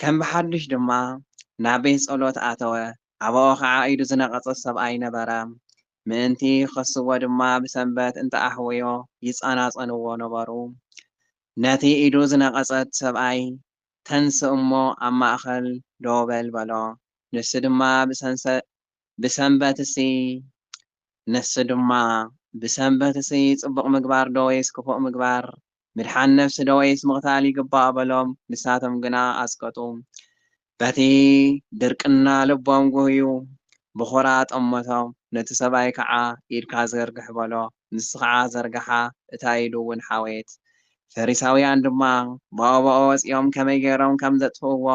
ከም ብሓዱሽ ድማ ናብ ቤት ጸሎት ኣተወ፣ ኣባኡ ኸኣ ኢዱ ዝነቐጸት ሰብኣይ ነበረ፣ ምእንቲ ኺኸስዎ ድማ ብሰንበት እንተ ኣሕወዮ ይጸናጸንዎ ነበሩ። ነቲ ኢዱ ዝነቐጸት ሰብኣይ፣ ተንስእ እሞ ኣብ ማእከል ደው በል በሎ፣ ንሱ ድማ ብሰንበትሲ ነፍሲ ድማ ብሰንበትሲ ጽቡቕ ምግባር ዶ ወይስ ክፉእ ምግባር፣ ምድሓን ነፍሲ ዶ ወይስ ምቕታል ይግባእ በሎም። ንሳቶም ግና ኣስቀጡ፣ በቲ ድርቅና ልቦም ጉህዩ ብኹራ ጠመቶም፣ ነቲ ሰብኣይ ከዓ ኢድካ ዘርግሕ በሎ፣ ንሱ ከዓ ዘርግሓ፣ እታ ኢዱውን ሓወየት። ፈሪሳውያን ድማ ብኦብኦ ወጺኦም ከመይ ገይሮም ከም ዘጥፍእዎ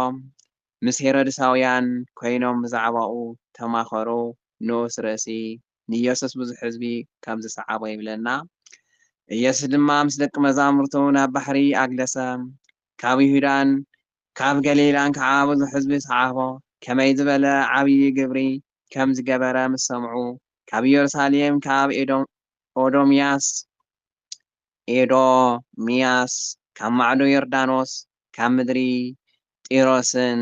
ምስ ሄሮድሳውያን ኰይኖም ብዛዕባኡ ተማኸሩ። ንኡስ ርእሲ ንኢየሱስ ብዙሕ ህዝቢ ከም ዝሰዓቦ ይብለና። ኢየሱስ ድማ ምስ ደቂ መዛሙርቱ ናብ ባሕሪ ኣግደሰ፣ ካብ ይሁዳን ካብ ገሊላን ከኣ ብዙሕ ህዝቢ ሰዓቦ። ከመይ ዝበለ ዓብዪ ግብሪ ከም ዝገበረ ምስ ሰምዑ፣ ካብ ኢየሩሳሌም ካብ ኤዶምያስ፣ ኤዶምያስ ካብ ማዕዶ ዮርዳኖስ፣ ካብ ምድሪ ጢሮስን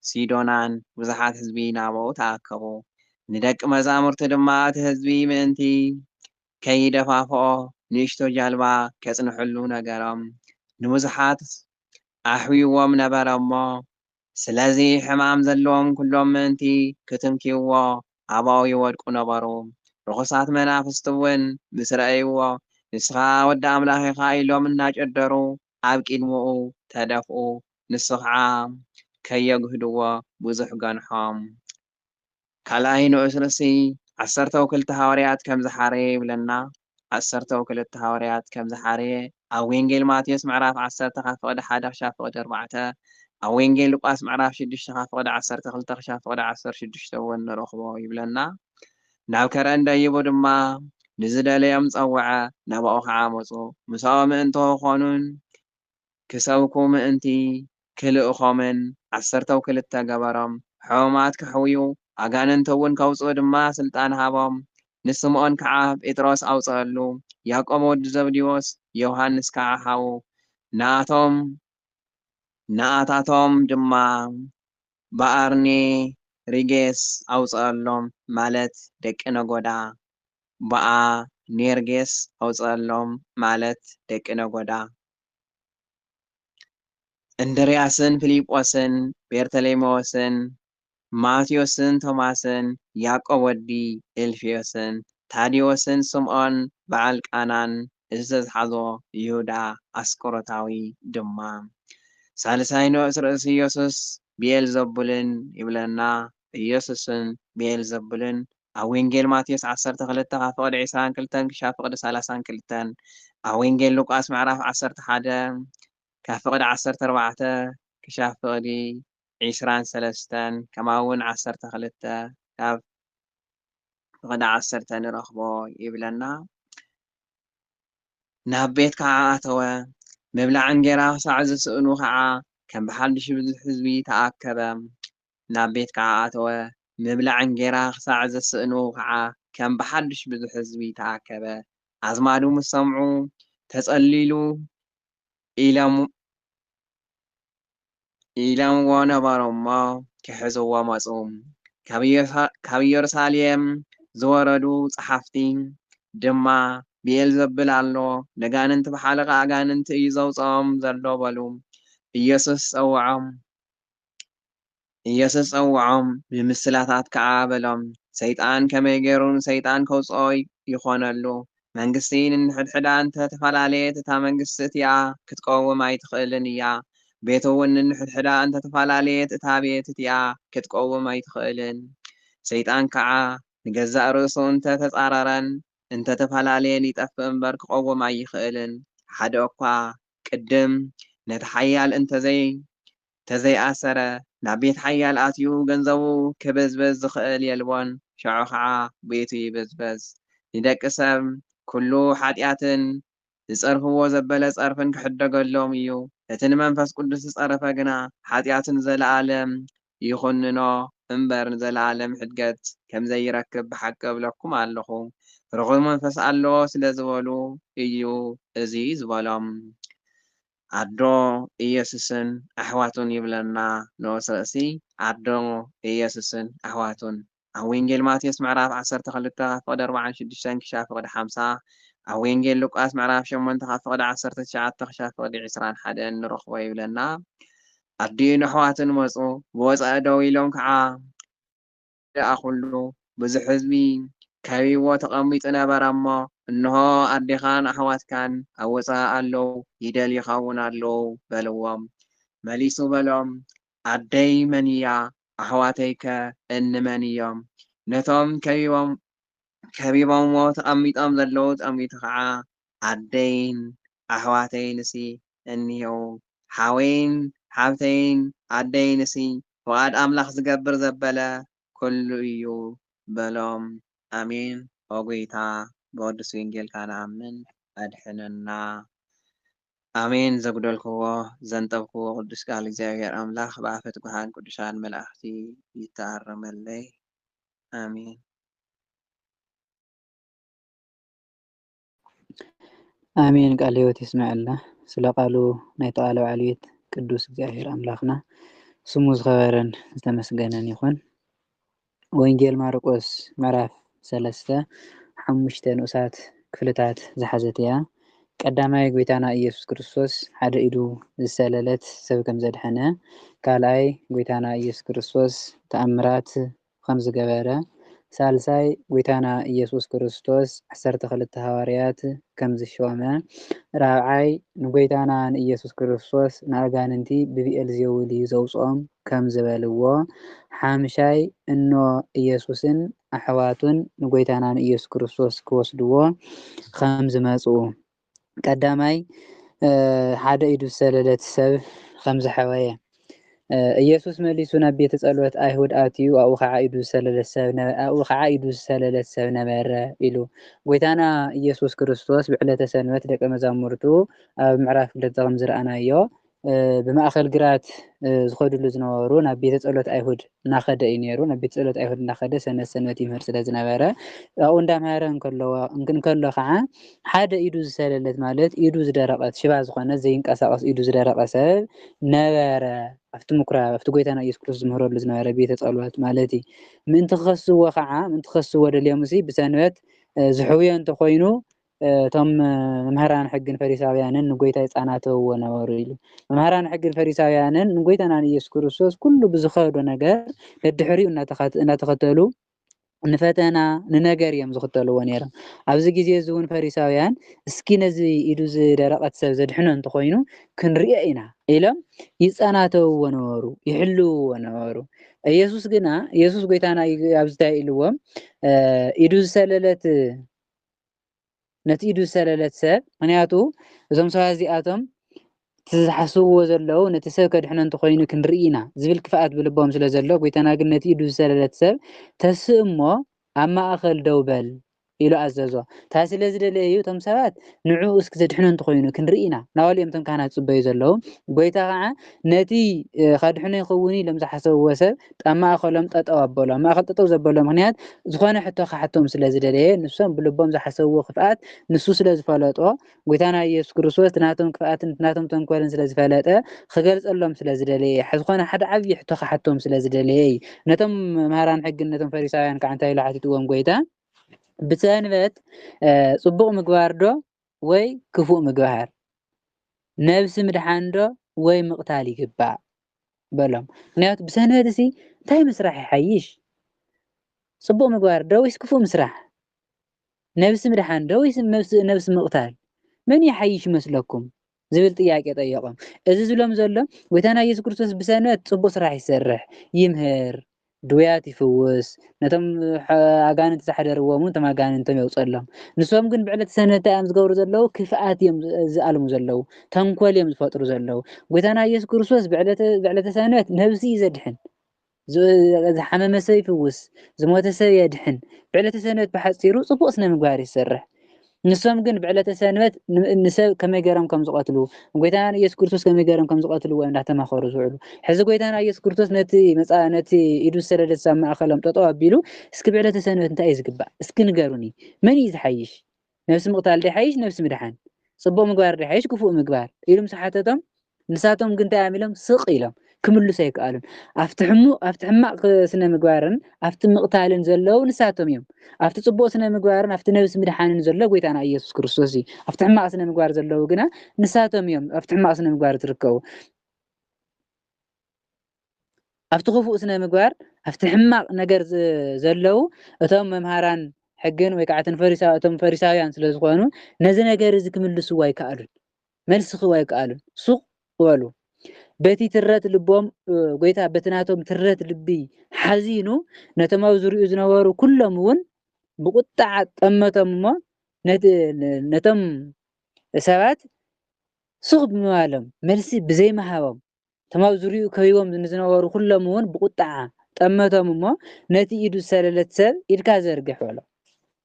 ሲዶናን ብዙሓት ህዝቢ ናባኡ ተኣከቡ። ንደቂ መዛሙርቱ ድማ እቲ ህዝቢ ምእንቲ ከይደፋፍኦ ንእሽቶ ጃልባ ኬጽንሕሉ ነገሮም። ንብዙሓት ኣሕውይዎም ነበረ እሞ፣ ስለዚ ሕማም ዘለዎም ኵሎም ምእንቲ ኽትንክይዎ፣ ኣባኡ ይወድቁ ነበሩ። ርኹሳት መናፍስትውን ምስ ረኣይዎ፣ ንስኻ ወዲ ኣምላኽ ኢኻ ኢሎም እናጨደሩ ኣብ ቅድሚኡ ተደፍኡ፣ ንሱ ኸዓ ከየጕህድዎ ብዙሕ ገንሖም። ካልኣይ ንኡስ ርእሲ ዓሰርተው ክልተ ሃዋርያት ከም ዝሓረየ ይብለና። ዓሰርተው ክልተ ሃዋርያት ከም ዝሓረየ ኣብ ዌንጌል ማቴዎስ ምዕራፍ ዓሰርተ ካብ ፍቕዲ ሓደ ክሻብ ፍቕዲ ኣርባዕተ፣ ኣብ ዌንጌል ሉቃስ ምዕራፍ ሽዱሽተ ካብ ፍቕዲ ዓሰርተ ክልተ ክሻብ ፍቕዲ ዓሰርተ ሽዱሽተ እውን ንረኽቦ ይብለና። ናብ ከረን ደይቡ ድማ ንዝደለዮም ጸውዐ፣ ናባኡ ኸዓ መጹ፣ ምሳኡ ምእንቶ ኾኑን፣ ክሰብኩ ምእንቲ ክልእኮምን ዓሰርተው ክልተ ገበሮም፣ ሕሙማት ከሕውዩ ኣጋንንቲውን ከውጽኡ ድማ ሥልጣን ሃቦም። ንስምዖን ከዓ ጴጥሮስ ኣውጽኣሉ፣ ያዕቆብ ወዲ ዘብዴዎስ ዮሓንስ ከዓ ሓዉ፣ ንኣቶም፣ ንኣታቶም ድማ ብኣርኒ ሪጌስ ኣውጸኣሎም ማለት ደቂ ነጎዳ ብኣ ኔርጌስ ኣውጸኣሎም ማለት ደቂ ነጎዳ እንድርያስን ፍሊጶስን ቤርተሌሜዎስን ማቴዎስን ቶማስን ያቆብ ወዲ እልፍዮስን ታዴዎስን ስምኦን ብዓል ቃናን ዝተትሓዞ ይሁዳ ኣስቆሮታዊ ድማ ሳልሳይ ንኡስ ርእሲ ኢየሱስ ብኤልዘቡልን ይብለና። ኢየሱስን ብኤልዘቡልን ኣብ ወንጌል ማቴዎስ ዓሰርተ ክልተ ካብ ፍቕዲ ዕስራን ክልተን ክሻብ ፍቕዲ ሰላሳን ክልተን ኣብ ወንጌል ሉቃስ ምዕራፍ ዓሰርተ ሓደ ካብ ፍቕዲ ዓሰርተ ኣርባዕተ ክሻብ ፍቕዲ ዕስራን ሰለስተን ከማውን ዓሰርተ ክልተ ካብ ብቕዳዕ ዓሰርተ ንረኽቦ ይብለና። ናብ ቤት ከዓ ኣተወ። ምብላዕ እንጌራ ክሳዕ ዝስእኑ ከዓ ከም ብሓድሽ ብዙሕ ህዝቢ ተኣከበ። ናብ ቤት ከዓ ኣተወ። ምብላዕ እንጌራ ክሳዕ ዝስእኑ ከዓ ከም ብሓድሽ ብዙሕ ህዝቢ ተኣከበ። ኣዝማዱ ምስ ሰምዑ ተጸሊሉ ኢሎም ኢሎምዎ ነበሩ'ሞ ኪሕዝዎ መጹ። ካብ ኢየሩሳሌም ዝወረዱ ጸሓፍቲ ድማ፣ ብኤልዘቡል ኣሎ፣ ነጋንንቲ ብሓለቓ ኣጋንንቲ እዩ ዘውጽኦም ዘሎ በሉ። ኢየሱስ ጸውዖም። ኢየሱስ ጸውዖም፣ ንምስላታት ከኣ በሎም፣ ሰይጣን ከመይ ገይሩ ንሰይጣን ከውጽኦ ይኾነሉ? መንግስቲ ንንሕድሕዳ እንተ ተፈላለየት እታ መንግስቲ እቲኣ ክትቀውም ኣይትኽእልን እያ፣ ቤት'ውን ንንሕድሕዳ እንተ ተፈላለየት እታ ቤት እቲኣ ክትቀውም ኣይትኽእልን። ሰይጣን ከኣ ንገዛእ ርእሱ እንተ ተጻረረን እንተ ተፈላለየን ይጠፍእ እምበር ክቐውም ኣይኽእልን፣ ሓደ'ኳ ቅድም ነቲ ሓያል እንተ ዘይ ተዘይኣሰረ ናብ ቤት ሓያል ኣትዩ ገንዘቡ ክብዝብዝ ዝኽእል የልቦን ሸዑ ኸዓ ቤቱ ይብዝበዝ ንደቂ ሰብ ኩሉ ሓጥያትን ዝጸርፍዎ ዘበለ ጸርፍን ክሕደገሎም እዩ እቲ ንመንፈስ ቅዱስ ዝጸረፈ ግና ሓጥያቱ ንዘለኣለም ይኹንኖ እምበር ንዘለኣለም ሕድገት ከምዘይረክብ ብሓቂ እብለኩም ኣለኹ ርኹስ መንፈስ ኣለዎ ስለዝበሉ እዩ እዙይ ዝበሎም ኣዶ ኢየሱስን ኣሕዋቱን ይብለና ንኡስ ርእሲ ኣዶ ኢየሱስን ኣሕዋቱን ኣብ ወንጌል ማቴዎስ ምዕራፍ ዓሰርተ ክልተ ካብ ፍቕዲ ኣርብዓን ሽዱሽተን ክሻብ ፍቕዲ ሓምሳ ኣብ ወንጌል ሉቃስ ምዕራፍ ሸሞንተ ካብ ፍቕዲ ዓሰርተ ትሽዓተ ክሻብ ፍቕዲ ዕስራን ሓደን ንረኽቦ ይብለና ኣዲኡን ኣሕዋቱን መጹ ብወጻኢ ደው ኢሎም ከዓ ደኣ ኩሉ ብዙሕ ህዝቢ ከቢብዎ ተቐሚጡ ነበረ እሞ፣ እንሆ፣ ኣዴኻን ኣሕዋትካን ኣብ ወጻኢ ኣለዉ፣ ይደልዩኻውን ኣለዉ፣ በልዎም። መሊሱ በሎም፣ ኣደይ መን እያ? ኣሕዋተይከ እንመን እዮም? ነቶም ከቢቦምዎ ተቐሚጦም ዘለዉ ጠሚቱ ኸዓ፣ ኣደይን ኣሕዋተይንሲ እኒሄው ሓወይን ሓብተይን ኣደይን እሲ ፍቃድ ኣምላክ ዝገብር ዘበለ ኩሉ እዩ በሎም ኣሜን ኦጎይታ ብቅዱስ ዊንጌልካ ንኣምን ኣድሕነና ኣሜን ዘጉደልክዎ ዘንጠብክዎ ቅዱስ ቃል እግዚኣብሔር ኣምላክ ብኣፈ ትጉሃን ቅዱሳን መላእክቲ ይተኣረመለይ ኣሜን። ኣሜን ቃል ህይወት ይስመዐልና ስለ ቃሉ ናይ ተቓለ በዓል ቤት ቅዱስ እግዚኣብሔር ኣምላኽና ስሙ ዝኸበረን ዝተመስገነን ይኹን። ወንጌል ማርቆስ ምዕራፍ ሰለስተ ሓሙሽተ ንኡሳት ክፍልታት ዝሓዘት እያ። ቀዳማይ ጎይታና ኢየሱስ ክርስቶስ ሓደ ኢዱ ዝሰለለት ሰብ ከም ዘድሐነ፣ ካልኣይ ጎይታና ኢየሱስ ክርስቶስ ተኣምራት ኸም ዝገበረ፣ ሳልሳይ ጐይታና ኢየሱስ ክርስቶስ ዓሰርተ ክልተ ሃዋርያት ከም ዝሾመ፣ ራብዓይ ንጐይታና ንኢየሱስ ክርስቶስ ንኣጋንንቲ ብብኤልዜቡል እዩ ዘውጽኦም ከም ዝበልዎ፣ ሓምሻይ እኖ ኢየሱስን ኣሕዋቱን ንጐይታና ንኢየሱስ ክርስቶስ ክወስድዎ ኸም ዝመጽኡ፣ ቀዳማይ ሓደ ኢዱ ዝሰለለት ሰብ ኸም ዝሐወየ ኢየሱስ መሊሱ ናብ ቤተ ጸሎት ኣይሁድ ኣትዩ ኣብኡ ኸዓ ኢዱ ዝሰለለት ሰብ ነበ ኣብኡ ኸዓ ኢዱ ዝሰለለት ሰብ ነበረ ኢሉ ጎይታና ኢየሱስ ክርስቶስ ብዕለተ ሰንበት ደቀ መዛሙርቱ ኣብ ምዕራፍ ክልተ ከም ዝረኣናዮ ብማእከል ግራት ዝኸድሉ ዝነበሩ ናብ ቤተ ጸሎት ኣይሁድ እናኸደ እዩ ነይሩ። ናብ ቤተ ጸሎት ኣይሁድ እናኸደ ሰንበት ሰንበት ይምህር ስለ ዝነበረ ኣብኡ እንዳምሃረ እንከለዎ እንከሎ ከዓ ሓደ ኢዱ ዝሰለለት ማለት ኢዱ ዝደረቐት ሽባ ዝኾነት ዘይንቀሳቐስ ኢዱ ዝደረቐ ሰብ ነበረ። ኣብቲ ምኩራብ ኣብቲ ጎይታና ኢየሱስ ክርስቶስ ዝምህረሉ ዝነበረ ቤተ ጸሎት ማለት እዩ። ምእንቲ ክኸስዎ ከዓ ምእንቲ ክኸስዎ ደልዮምሲ ብሰንበት ዝሕውዮ እንተኾይኑ እቶም መምህራን ሕግን ፈሪሳውያንን ንጎይታ ይጻናተውዎ ነበሩ ኢሉ። መምህራን ሕግን ፈሪሳውያንን ንጎይታና ንኢየሱስ ክርስቶስ ኩሉ ብዝኸዶ ነገር ደድሕሪኡ እናተኸተሉ ንፈተና ንነገር እዮም ዝኽተልዎ ነይሮም ኣብዚ ግዜ እዚ እውን ፈሪሳውያን እስኪ ነዚ ኢዱ ዝደረቐት ሰብ ዘድሕኖ እንተኾይኑ ክንሪኦ ኢና ኢሎም ይጸናተውዎ ነበሩ ይሕልውዎ ነበሩ ኢየሱስ ግና ኢየሱስ ጎይታና ኣብዚ እንታይ ኢልዎም ኢዱ ዝሰለለት ነቲ ኢዱ ዝሰለለት ሰብ ምክንያቱ እዞም ሰባት እዚኣቶም እቲ ዝሓስብዎ ዘለዉ ነቲ ሰብ ከድሕኖ እንተኮይኑ ክንርኢ ኢና ዝብል ክፍኣት ብልቦም ስለ ዘሎ ጎይታና ግን ነቲ ኢዱ ዝሰለለት ሰብ ተስእ እሞ ኣብ ማእኸል ደው በል ኢሉ ኣዘዞ እታ ስለ ዝደለየ እዩ እቶም ሰባት ንዕኡ እስኪ ዘድሕኖ እንተኮይኑ ክንርኢ ኢና ናበሉ እዮም እቶም ካህናት ዝፅበዩ ዘለዉ ጎይታ ከዓ ነቲ ከድሕኖ ይኽውን ኢሎም ዝሓሰብዎ ሰብ ኣብ ማእኸሎም ጠጠው ኣበሎ። ኣብ ማእኸል ጠጠው ዘበሎ ምኽንያት ዝኾነ ሕቶ ክሓቶም ስለ ዝደለየ ንሶም ብልቦም ዝሓሰብዎ ክፍኣት ንሱ ስለ ዝፈለጦ ጎይታና ኢየሱስ ክርስቶስ እቲ ናቶም ክፍኣትን እቲ ናቶም ተንኮልን ስለ ዝፈለጠ ክገልጸሎም ስለ ዝደለየ ዝኾነ ሓደ ዓብዪ ሕቶ ክሓቶም ስለ ዝደለየ እዩ። ነቶም መምህራን ሕግን ነቶም ፈሪሳውያን ከዓ እንታይ ኢሉ ሓቲትዎም ጎይታ ብሰንበት ጽቡቕ ምግባር ዶ ወይ ክፉእ ምግባር፣ ነብሲ ምድሓንዶ ወይ ምቕታል ይግባእ? በሎም። ምኽንያቱ ብሰንበትሲ እንታይ ምስራሕ ይሓይሽ? ጽቡቕ ምግባርዶ ወይስ ክፉእ ምስራሕ? ነብሲ ምድሓንዶ ወይስ ነብሲ ምቕታል? መን ይሓይሽ ይመስለኩም? ዝብል ጥያቄ ጠየቖም። እዚ ዝብሎም ዘሎ ጎይታና ኢየሱስ ክርስቶስ ብሰንበት ጽቡቕ ስራሕ ይሰርሕ፣ ይምህር፣ ድውያት ይፍውስ፣ ነቶም ኣጋንንቲ ዝሓደርዎም እውን እቶም ኣጋንንቶም የውጸሎም። ንሶም ግን ብዕለት ሰንበት እንታይ እዮም ዝገብሩ ዘለዉ? ክፍኣት እዮም ዝኣልሙ ዘለዉ፣ ተንኮል እዮም ዝፈጥሩ ዘለዉ። ጎይታና ኢየሱስ ክርስቶስ ብዕለተ ሰንበት ነብሲ እዩ ዘድሕን። ዝሓመመ ሰብ ይፍውስ፣ ዝሞተ ሰብ የድሕን፣ ብዕለተ ሰንበት ብሓጺሩ ጽቡቕ ስነ ምግባር ይሰርሕ። ንሶም ግን ብዕለተ ሰንበት ንሰብ ከመይ ገይሮም ከም ዝቐትሉ፣ ጎይታና ኢየሱስ ክርስቶስ ከመይ ገይሮም ከም ዝቐትልዎ እዮም እንዳተማኸሩ ዝውዕሉ። ሕዚ ጎይታና ኢየሱስ ክርስቶስ ነቲ መጻ ነቲ ኢዱ ዝሰደደትስ ኣብ ማእከሎም ጠጠው ኣቢሉ እስኪ ብዕለተ ሰንበት እንታይ እዩ ዝግባእ እስኪ ንገሩኒ መን እዩ ዝሓይሽ ነብሲ ምቕታል ድዩ ይሓይሽ ነብሲ ምድሓን? ጽቡቕ ምግባር ድዩ ይሓይሽ ክፉእ ምግባር? ኢሉ ምስ ሓተቶም፣ ንሳቶም ግን እንታይ እዮም ኢሎም? ስቕ ኢሎም። ክምልሱ ኣይከኣሉን። ኣብቲ ሕሙቕ ኣብቲ ሕማቕ ስነ ምግባርን ኣብቲ ምቕታልን ዘለዉ ንሳቶም እዮም። ኣብቲ ጽቡቕ ስነ ምግባርን ኣብቲ ነብሲ ምድሓንን ዘሎ ጎይታና ኢየሱስ ክርስቶስ እዩ። ኣብቲ ሕማቕ ስነ ምግባር ዘለዉ ግና ንሳቶም እዮም ኣብቲ ሕማቕ ስነ ምግባር ዝርከቡ። ኣብቲ ክፉእ ስነ ምግባር ኣብቲ ሕማቕ ነገር ዘለዉ እቶም መምሃራን ሕግን ወይ ከዓ እቶም ፈሪሳውያን ስለ ዝኾኑ ነዚ ነገር እዚ ክምልስዎ ኣይከኣሉን መልሲ ክህቡ ኣይከኣሉን ሱቕ በሉ በቲ ትረት ልቦም ጎይታ በቲ ናቶም ትረት ልቢ ሓዚኑ ነቶም ኣብ ዝሪኡ ዝነበሩ ኩሎም እውን ብቁጣዓ ጠመቶም እሞ ነቶም ሰባት ሱቕ ብምባሎም መልሲ ብዘይምሃቦም እቶም ኣብ ዙርያኡ ከቢቦም ንዝነበሩ ዅሎም እውን ብቝጥዓ ጠመቶም እሞ፣ ነቲ ኢዱ ዝሰለለት ሰብ፣ ኢድካ ዘርግሕ፣ በሎ።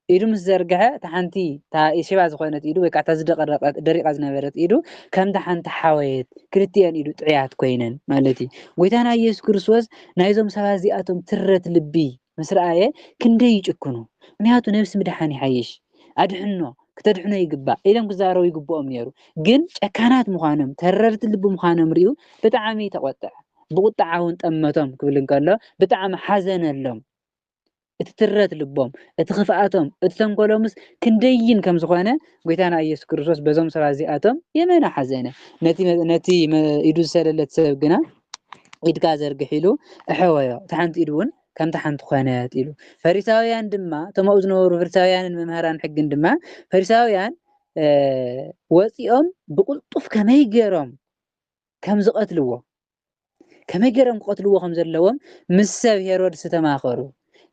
ኢዱ ምስ ዘርግሐ፣ እታ ሓንቲ፣ እታ ሽባ ዝዀነት ኢዱ፣ ወይ ከኣ እታ ዝደቐረቐት፣ ደሪቓ ዝነበረት ኢዱ፣ ከምታ ሓንቲ ሓወየት፣ ክልቲኤን ኢዱ ጥዕያት ኰይነን ማለት እዩ። ጐይታና ኢየሱስ ክርስቶስ ናይዞም ሰባት እዚኣቶም ትረት ልቢ ምስ ረኣየ፣ ክንደይ ይጭክኑ! ምኽንያቱ ነብሲ ምድሓን ይሓይሽ። ኣድሕኖ ክተድሕኖ ይግባእ ኢሎም ክዛረቡ ይግብኦም ነይሩ ግን ጨካናት ምዃኖም ተረርቲ ልቢ ምዃኖም ሪኡ ብጣዕሚ ተቆጥዐ ብቁጥዓ እውን ጠመቶም ክብል እንከሎ ብጣዕሚ ሓዘነሎም እቲ ትረት ልቦም እቲ ክፍኣቶም እቲ ተንኮሎምስ ክንደይን ከም ዝኾነ ጎይታና ኢየሱስ ክርስቶስ በዞም ሰባት እዚኣቶም የመና ሓዘነ ነቲ ነቲ ኢዱ ዝሰለለት ሰብ ግና ኢድካ ዘርግሕ ኢሉ እሐወዮ እቲ ሓንቲ ኢዱ እውን ከምታ ሓንቲ ዀነት ኢሉ። ፈሪሳውያን ድማ፣ እቶም ኣብኡ ዝነበሩ ፈሪሳውያንን መምሃራን ሕግን ድማ፣ ፈሪሳውያን ወጺኦም ብቕልጡፍ ከመይ ገይሮም ከም ዝቐትልዎ፣ ከመይ ገይሮም ክቐትልዎ ከም ዘለዎም ምስ ሰብ ሄሮድስ ተማኸሩ።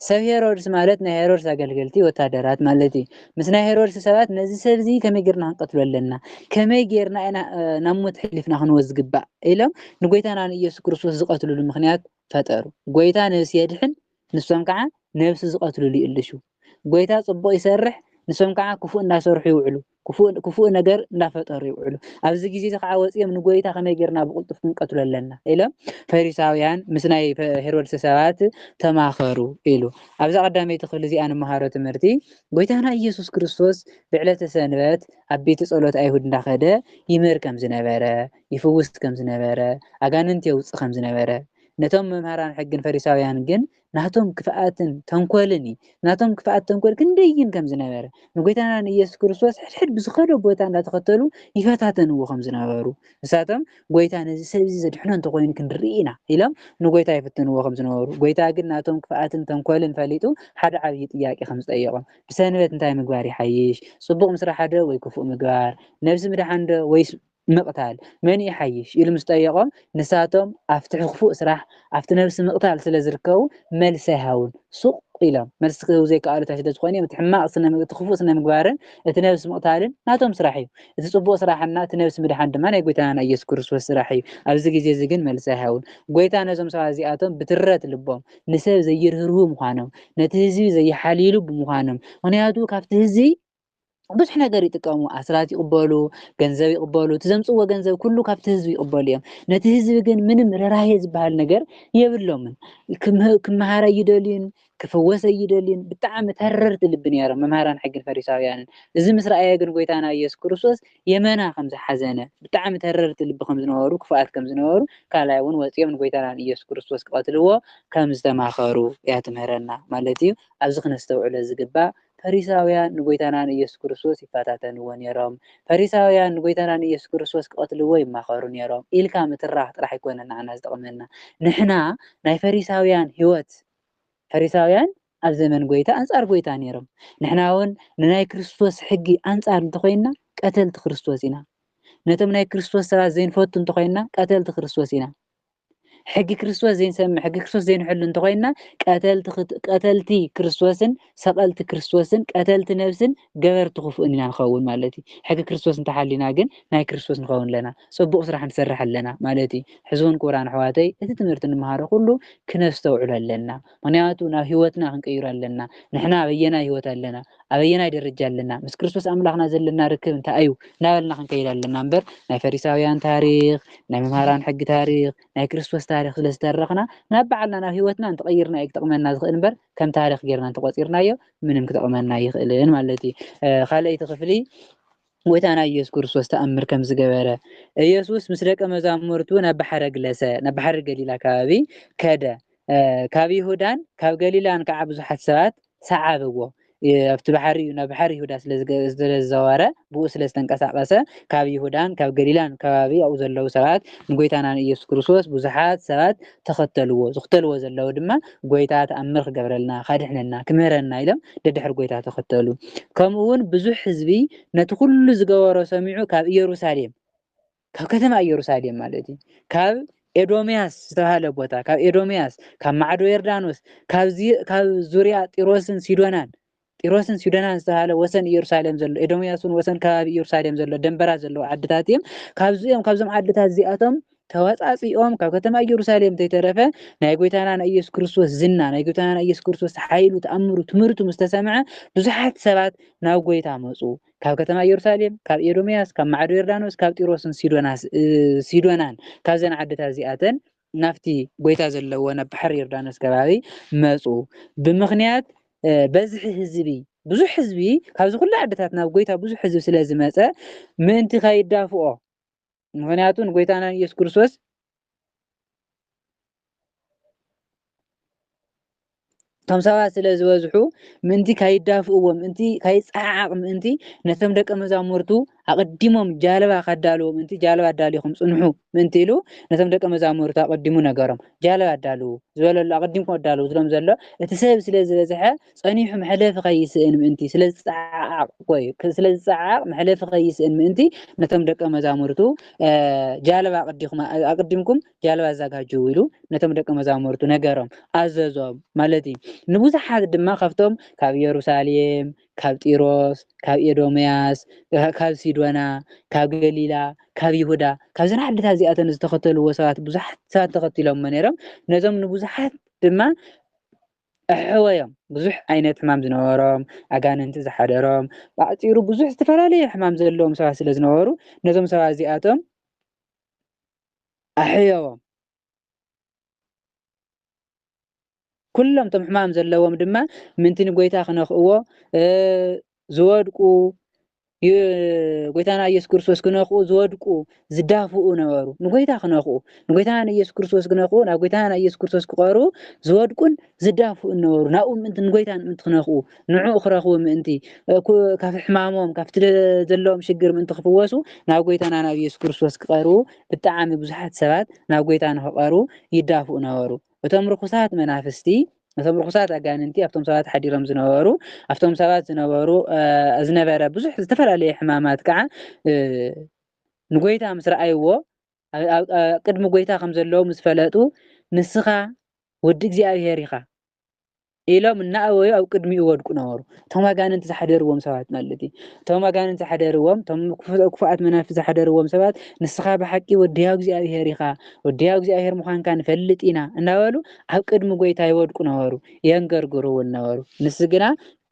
ሰብ ሄሮድስ ማለት ናይ ሄሮድስ ኣገልገልቲ ወታደራት ማለት እዩ። ምስ ናይ ሄሮድስ ሰባት ነዚ ሰብ እዚ ከመይ ገርና ክንቀትሎ ኣለና፣ ከመይ ገርና ኢና ናብ ሞት ሕሊፍና ክንወ ዝግባእ ኢሎም ንጎይታና ንኢየሱስ ክርስቶስ ዝቐትልሉ ምክንያት ፈጠሩ ጎይታ ነብሲ የድሕን ንሶም ካዓ ነብሲ ዝቀትልሉ ይእልሹ ጎይታ ፅቡቅ ይሰርሕ ንሶም ካዓ ክፉእ እንዳሰርሑ ይውዕሉ ክፉእ ክፉእ ነገር እንዳፈጠሩ ይውዕሉ ኣብዚ ግዜ እዚ ካዓ ወፅዮም ንጎይታ ከመይ ገይርና ብቅልጡፍ ክንቀትሎ ኣለና ኢሎም ፈሪሳውያን ምስ ናይ ሄሮድሰ ሰባት ተማከሩ ኢሉ ኣብዛ ቀዳመይቲ ክፍሊ እዚኣ ንመሃሮ ትምህርቲ ጎይታና ኢየሱስ ክርስቶስ ብዕለተ ሰንበት ኣብ ቤተ ጸሎት ኣይሁድ እንዳከደ ይምህር ከም ዝነበረ ይፍውስ ከም ዝነበረ፣ ኣጋንንቲ የውጽእ ከም ዝነበረ፣ ነቶም መምህራን ሕግን ፈሪሳውያን ግን ናቶም ክፍኣትን ተንኮልን እዩ። ናቶም ክፍኣት ተንኮል ክንደይን ከም ዝነበረ፣ ንጎይታና ንኢየሱስ ክርስቶስ ሕድሕድ ብዝኸዶ ቦታ እንዳተኸተሉ ይፈታተንዎ ከም ዝነበሩ፣ ንሳቶም ጎይታ ነዚ ሰብ እዚ ዘድሕኖ እንተኾይኑ ክንርኢ ኢና ኢሎም ንጎይታ ይፍትንዎ ከም ዝነበሩ፣ ጎይታ ግን ናቶም ክፍኣትን ተንኮልን ፈሊጡ ሓደ ዓብይ ጥያቄ ከም ዝጠየቆም፣ ብሰንበት እንታይ ምግባር ይሓይሽ? ጽቡቕ ምስራሕ'ዶ ወይ ክፉእ ምግባር? ነብሲ ምድሓን'ዶ ወይስ ምቕታል መን ይሓይሽ ኢሉ ምስ ጠየቖም ንሳቶም ኣብቲ ሕክፉእ ስራሕ ኣብቲ ነብሲ ምቕታል ስለ ዝርከቡ መልሲ ኣይሃቡን ሱቕ ኢሎም። መልሲ ክህቡ ዘይከኣሉ እንታይ ስለ ዝኾኑ እዮም እቲ ሕማቕ ስነ እቲ ክፉእ ስነ ምግባርን እቲ ነብሲ ምቕታልን ናቶም ስራሕ እዩ እቲ ጽቡቕ ስራሕና እቲ ነብሲ ምድሓን ድማ ናይ ጎይታና ናይ ኢየሱስ ክርስቶስ ስራሕ እዩ ኣብዚ ግዜ እዚ ግን መልሲ ኣይሃቡን ጎይታ ነዞም ሰባት እዚኣቶም ብትረት ልቦም ንሰብ ዘይርህርሁ ምዃኖም ነቲ ህዝቢ ዘይሓልይሉ ብምዃኖም ምኽንያቱ ካብቲ ህዝቢ ብዙሕ ነገር ይጥቀሙ ኣስራት ይቕበሉ ገንዘብ ይቕበሉ እቲ ዘምፅዎ ገንዘብ ኩሉ ካብቲ ህዝቢ ይቕበሉ እዮም ነቲ ህዝቢ ግን ምንም ርህራሄ ዝበሃል ነገር የብሎምን ክመሃር ኣይደልዩን ክፍወስ ኣይደልዩን ብጣዕሚ ተረርቲ ልቢ ነይሮም መምሃራን ሕግን ፈሪሳውያንን እዚ ምስ ረኣየ ግን ጎይታና ኢየሱስ ክርስቶስ የመና ከም ዝሓዘነ ብጣዕሚ ተረርቲ ልቢ ከም ዝነበሩ ክፉኣት ከም ዝነበሩ ካልኣይ እውን ወፂኦም ንጎይታና ኢየሱስ ክርስቶስ ክቐትልዎ ከም ዝተማኸሩ እያ ትምህረና ማለት እዩ ኣብዚ ክነስተውዕሎ ዝግባእ ፈሪሳውያን ንጐይታና ንኢየሱስ ክርስቶስ ይፈታተንዎ ነይሮም። ፈሪሳውያን ንጐይታና ንኢየሱስ ክርስቶስ ክቐትልዎ ይማኸሩ ነይሮም ኢልካ ምትራኽ ጥራሕ ኣይኮነን ንዓና ዝጠቕመና። ንሕና ናይ ፈሪሳውያን ሕይወት ፈሪሳውያን ኣብ ዘመን ጐይታ ኣንጻር ጐይታ ነይሮም። ንሕናውን ንናይ ክርስቶስ ሕጊ ኣንጻር እንተኾይንና ቀተልቲ ክርስቶስ ኢና። ነቶም ናይ ክርስቶስ ሰባት ዘይንፈቱ እንተኾይንና ቀተልቲ ክርስቶስ ኢና። ሕጊ ክርስቶስ ዘይንሰምዕ ሕጊ ክርስቶስ ዘይንሕሉ እንተኾይንና ቀተልቲ ክርስቶስን ሰቐልቲ ክርስቶስን ቀተልቲ ነብስን ገበርቲ ክፉእን ኢና ንኸውን ማለት እዩ ሕጊ ክርስቶስ እንተሓሊና ግን ናይ ክርስቶስ ንኸውን ኣለና ጽቡቕ ስራሕ ንሰርሕ ኣለና ማለት እዩ ሕዝውን ክቡራን ኣሕዋተይ እቲ ትምህርቲ ንምሃሮ ኩሉ ክነስተውዕሎ ኣለና ምኽንያቱ ናብ ህይወትና ክንቀይሮ ኣለና። ንሕና ኣበየናይ ህይወት ኣለና? ኣበየናይ ደረጃ ኣለና? ምስ ክርስቶስ ኣምላኽና ዘለና ርክብ እንታይ እዩ? እናበልና ክንከይድ ኣለና እምበር ናይ ፈሪሳውያን ታሪኽ፣ ናይ መምሃራን ሕጊ ታሪኽ፣ ናይ ክርስቶስ ታሪኽ ስለ ዝተረኽና ናብ በዓልና ናብ ህይወትና እንተቐይርና እዩ ክጠቕመና ዝኽእል እምበር ከም ታሪኽ ጌርና እንተቆጺርናዮ ምንም ክጠቕመና ኣይኽእልን ማለት እዩ። ካልኣይቲ ክፍሊ ጎይታና ኢየሱስ ክርስቶስ ተኣምር ከም ዝገበረ፣ ኢየሱስ ምስ ደቀ መዛሙርቱ ናብ ባሕረ ግለሰ ናብ ባሕሪ ገሊላ ከባቢ ከደ። ካብ ይሁዳን ካብ ገሊላን ከዓ ብዙሓት ሰባት ሰዓብዎ። ኣብቲ ባሕሪ ናብ ባሕሪ ይሁዳ ስለዝዘወረ ብኡ ስለዝተንቀሳቀሰ ካብ ይሁዳን ካብ ገሊላን ከባቢ ኣብኡ ዘለዉ ሰባት ንጎይታና ንኢየሱስ ክርስቶስ ብዙሓት ሰባት ተኸተልዎ፣ ዝኽተልዎ ዘለዉ ድማ ጐይታ ተኣምር ክገብረልና፣ ከድሕነና፣ ክምህረና ኢሎም ደድሕሪ ጐይታ ተኸተሉ። ከምኡውን ብዙሕ ህዝቢ ነቲ ዅሉ ዝገበሮ ሰሚዑ ካብ ኢየሩሳሌም፣ ካብ ከተማ ኢየሩሳሌም ማለት እዩ፣ ካብ ኤዶምያስ ዝተባህለ ቦታ፣ ካብ ኤዶምያስ፣ ካብ ማዕዶ ዮርዳኖስ፣ ካብ ዙርያ ጢሮስን ሲዶናን ጢሮስን ሲዶናን ዝተባህለ ወሰን ኢየሩሳሌም ዘሎ፣ ኤዶምያስ እውን ወሰን ከባቢ ኢየሩሳሌም ዘሎ ደንበራት ዘለዎ ዓድታት እዮም። ካብዚ እዮም ካብዞም ዓድታት እዚኣቶም ተወጻጺኦም ካብ ከተማ ኢየሩሳሌም እንተይተረፈ ናይ ጎይታና ናይ ኢየሱስ ክርስቶስ ዝና ናይ ጎይታና ናይ ኢየሱስ ክርስቶስ ሓይሉ ተኣምሩ ትምህርቱ ምስ ተሰምዐ ብዙሓት ሰባት ናብ ጎይታ መጹ። ካብ ከተማ ኢየሩሳሌም ካብ ኤዶምያስ ካብ ማዕዶ ዮርዳኖስ ካብ ጢሮስን ሲዶናስ ሲዶናን ካብዘን ዓድታት እዚኣተን ናብቲ ጎይታ ዘለዎ ናብ ባሕሪ ዮርዳኖስ ከባቢ መጹ። ብምኽንያት በዝሒ ህዝቢ ብዙሕ ህዝቢ ካብዚ ኩሉ ዓድታት ናብ ጎይታ ብዙሕ ህዝቢ ስለ ዝመጸ ምእንቲ ከይዳፍኦ ምኽንያቱ ንጎይታና ንኢየሱስ ክርስቶስ እቶም ሰባት ስለ ዝበዝሑ ምእንቲ ካይዳፍኡ ምእንቲ ካይጸዓዓቕ ምእንቲ ነቶም ደቀ መዛሙርቱ ኣቐዲሞም ጃልባ ከዳልዎ ምእንቲ ጃልባ ኣዳሊኹም ጽንሑ ምእንቲ ኢሉ ነቶም ደቀ መዛሙርቱ ኣቐዲሙ ነገሮም ጃልባ ኣዳልዉ ዝበለሉ ኣቐዲምኩም ኣዳልዉ ዝሎም ዘሎ እቲ ሰብ ስለ ዝበዝሐ ጸኒሑ መሕለፊ ከይስእን ምእንቲ ስለ ዝጸዓዓቕ ወይ ስለ ዝጸዓዓቕ መሕለፊ ከይስእን ምእንቲ ነቶም ደቀ መዛሙርቱ ጃልባ ኣቐዲምኩም ጃልባ ኣዛጋጅው ኢሉ ነቶም ደቀ መዛሙርቱ ነገሮም፣ ኣዘዞም፣ ማለት እዩ። ንብዙሓት ድማ ካብቶም ካብ የሩሳሌም፣ ካብ ጢሮስ፣ ካብ ኤዶምያስ፣ ካብ ሲዶና፣ ካብ ገሊላ፣ ካብ ይሁዳ፣ ካብዘን ዓድታት እዚኣተን ዝተኸተልዎ ሰባት ብዙሓት ሰባት ተኸቲሎሞ ነይሮም። ነዞም ንብዙሓት ድማ ኣሕወዮም። ብዙሕ ዓይነት ሕማም ዝነበሮም፣ ኣጋንንቲ ዝሓደሮም፣ ብኣጭሩ ብዙሕ ዝተፈላለዩ ሕማም ዘለዎም ሰባት ስለ ዝነበሩ ነዞም ሰባት እዚኣቶም ኣሕዮዎም። ኩሎም እቶም ሕማም ዘለዎም ድማ ምንቲ ንጎይታ ክነኽእዎ ዝወድቁ ጎይታና ኢየሱስ ክርስቶስ ክነኽኡ ዝወድቁ ዝዳፍኡ ነበሩ። ንጎይታ ክነኽኡ ንጎይታና ኢየሱስ ክርስቶስ ክነኽኡ ናብ ጎይታና ኢየሱስ ክርስቶስ ክቐርቡ ዝወድቁን ዝዳፍኡ እነበሩ፣ ናብኡ ምእንቲ ንጐይታን ምእንቲ ክነክኡ፣ ንዕኡ ክረኽቡ ምእንቲ፣ እኩ ካብ ሕማሞም፣ ካብቲ ዘለዎም ሽግር ምእንቲ ክፍወሱ፣ ናብ ጐይታና ናብ ኢየሱስ ክርስቶስ ክቐርቡ፣ ብጣዓሚ ብዙሓት ሰባት ናብ ጐይታ ንክቐርቡ ይዳፍኡ ነበሩ። እቶም ርኹሳት መናፍስቲ፣ እቶም ርኹሳት ኣጋንንቲ ኣብቶም ሰባት ሓዲሮም ዝነበሩ፣ ኣብቶም ሰባት ዝነበሩ ዝነበረ ብዙሕ ዝተፈላለየ ሕማማት ከኣ ንጐይታ ምስ ረኣይዎ ኣብ ቅድሚ ጐይታ ከም ዘለዉ ምስ ፈለጡ፣ ንስኻ ወዲ እግዚኣብሄር ኢኻ ኢሎም እናእወዩ ኣብ ቅድሚኡ ይወድቁ ነበሩ። እቶም ኣጋንንቲ ዝሓደርዎም ሰባት ማለት እዩ። እቶም ኣጋንንቲ ዝሓደርዎም እቶም ክፉኣት መናፍስቲ ዝሓደርዎም ሰባት ንስኻ ብሓቂ ወዲ ሕያው እግዚኣብሄር ኢኻ፣ ወዲ ሕያው እግዚኣብሄር ምዃንካ ንፈልጥ ኢና እናበሉ ኣብ ቅድሚ ጐይታ ይወድቁ ነበሩ፣ የንገርግሩ እውን ነበሩ። ንሱ ግና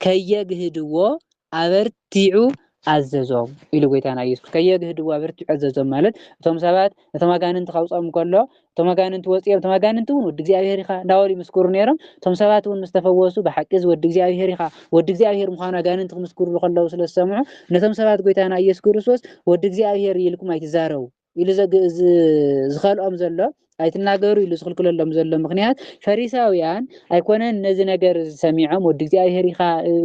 ከየግህድዎ ኣበርቲዑ ኣዘዞም ኢሉ ጎይታና ኢየሱስ ከየግህድዎ ኣበርቲዑ ኣዘዞም ማለት እቶም ሰባት ነቶም ኣጋንንቲ ካውጾም ከሎ እቶም ኣጋንንቲ ወጺኦም እቶም ኣጋንንቲ እውን ወዲ እግዚኣብሔር ኢኻ እንዳበሉ ይምስክሩ ነይሮም እቶም ሰባት እውን ምስ ተፈወሱ ብሓቂ እዚ ወዲ እግዚኣብሔር ኢኻ ወዲ እግዚኣብሔር ምዃኑ ኣጋንንቲ ክምስክሩሉ ከለዉ ስለ ዝሰምዑ ነቶም ሰባት ጎይታና ኢየሱስ ክርስቶስ ወዲ እግዚኣብሔር ኢልኩም ኣይትዛረቡ ኢሉ ዝኸልኦም ዘሎ ኣይትናገሩ ኢሉ ዝኽልክለሎም ዘሎ ምኽንያት ፈሪሳውያን ኣይኮነን ነዚ ነገር ሰሚዖም ወዲ እግዚኣብሔር ኢኻ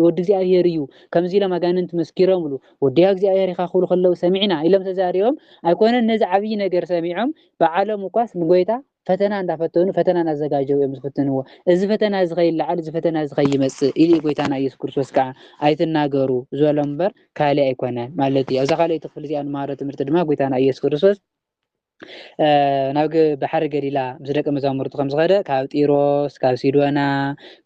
ወዲ እግዚኣብሔር እዩ ከምዚ ኢሎም ኣጋንንቲ መስኪሮምሉ ወዲ እግዚኣብሔር ኢኻ ክብሉ ከለዉ ሰሚዕና ኢሎም ተዛሪቦም ኣይኮነን ነዚ ዓብዪ ነገር ሰሚዖም በዓሎም እኳስ ንጎይታ ፈተና እንዳፈተኑ ፈተና እናዘጋጀዉ እዮም ዝፍትንዎ። እዚ ፈተና እዚ ከይለዓል እዚ ፈተና እዚ ከይመጽእ ኢሊ ጎይታና ኢየሱስ ክርስቶስ ከኣ ኣይትናገሩ ዝበሎም እምበር ካልእ ኣይኮነን ማለት እዩ። ኣብዛ ካልኣይቲ ክፍሊ እዚኣ ንመሃሮ ትምህርቲ ድማ ጎይታና ኢየሱስ ክርስቶስ ናብ ባሕሪ ገሊላ ምስ ደቂ መዛሙርቱ ከም ዝኸደ ካብ ጢሮስ ካብ ሲዶና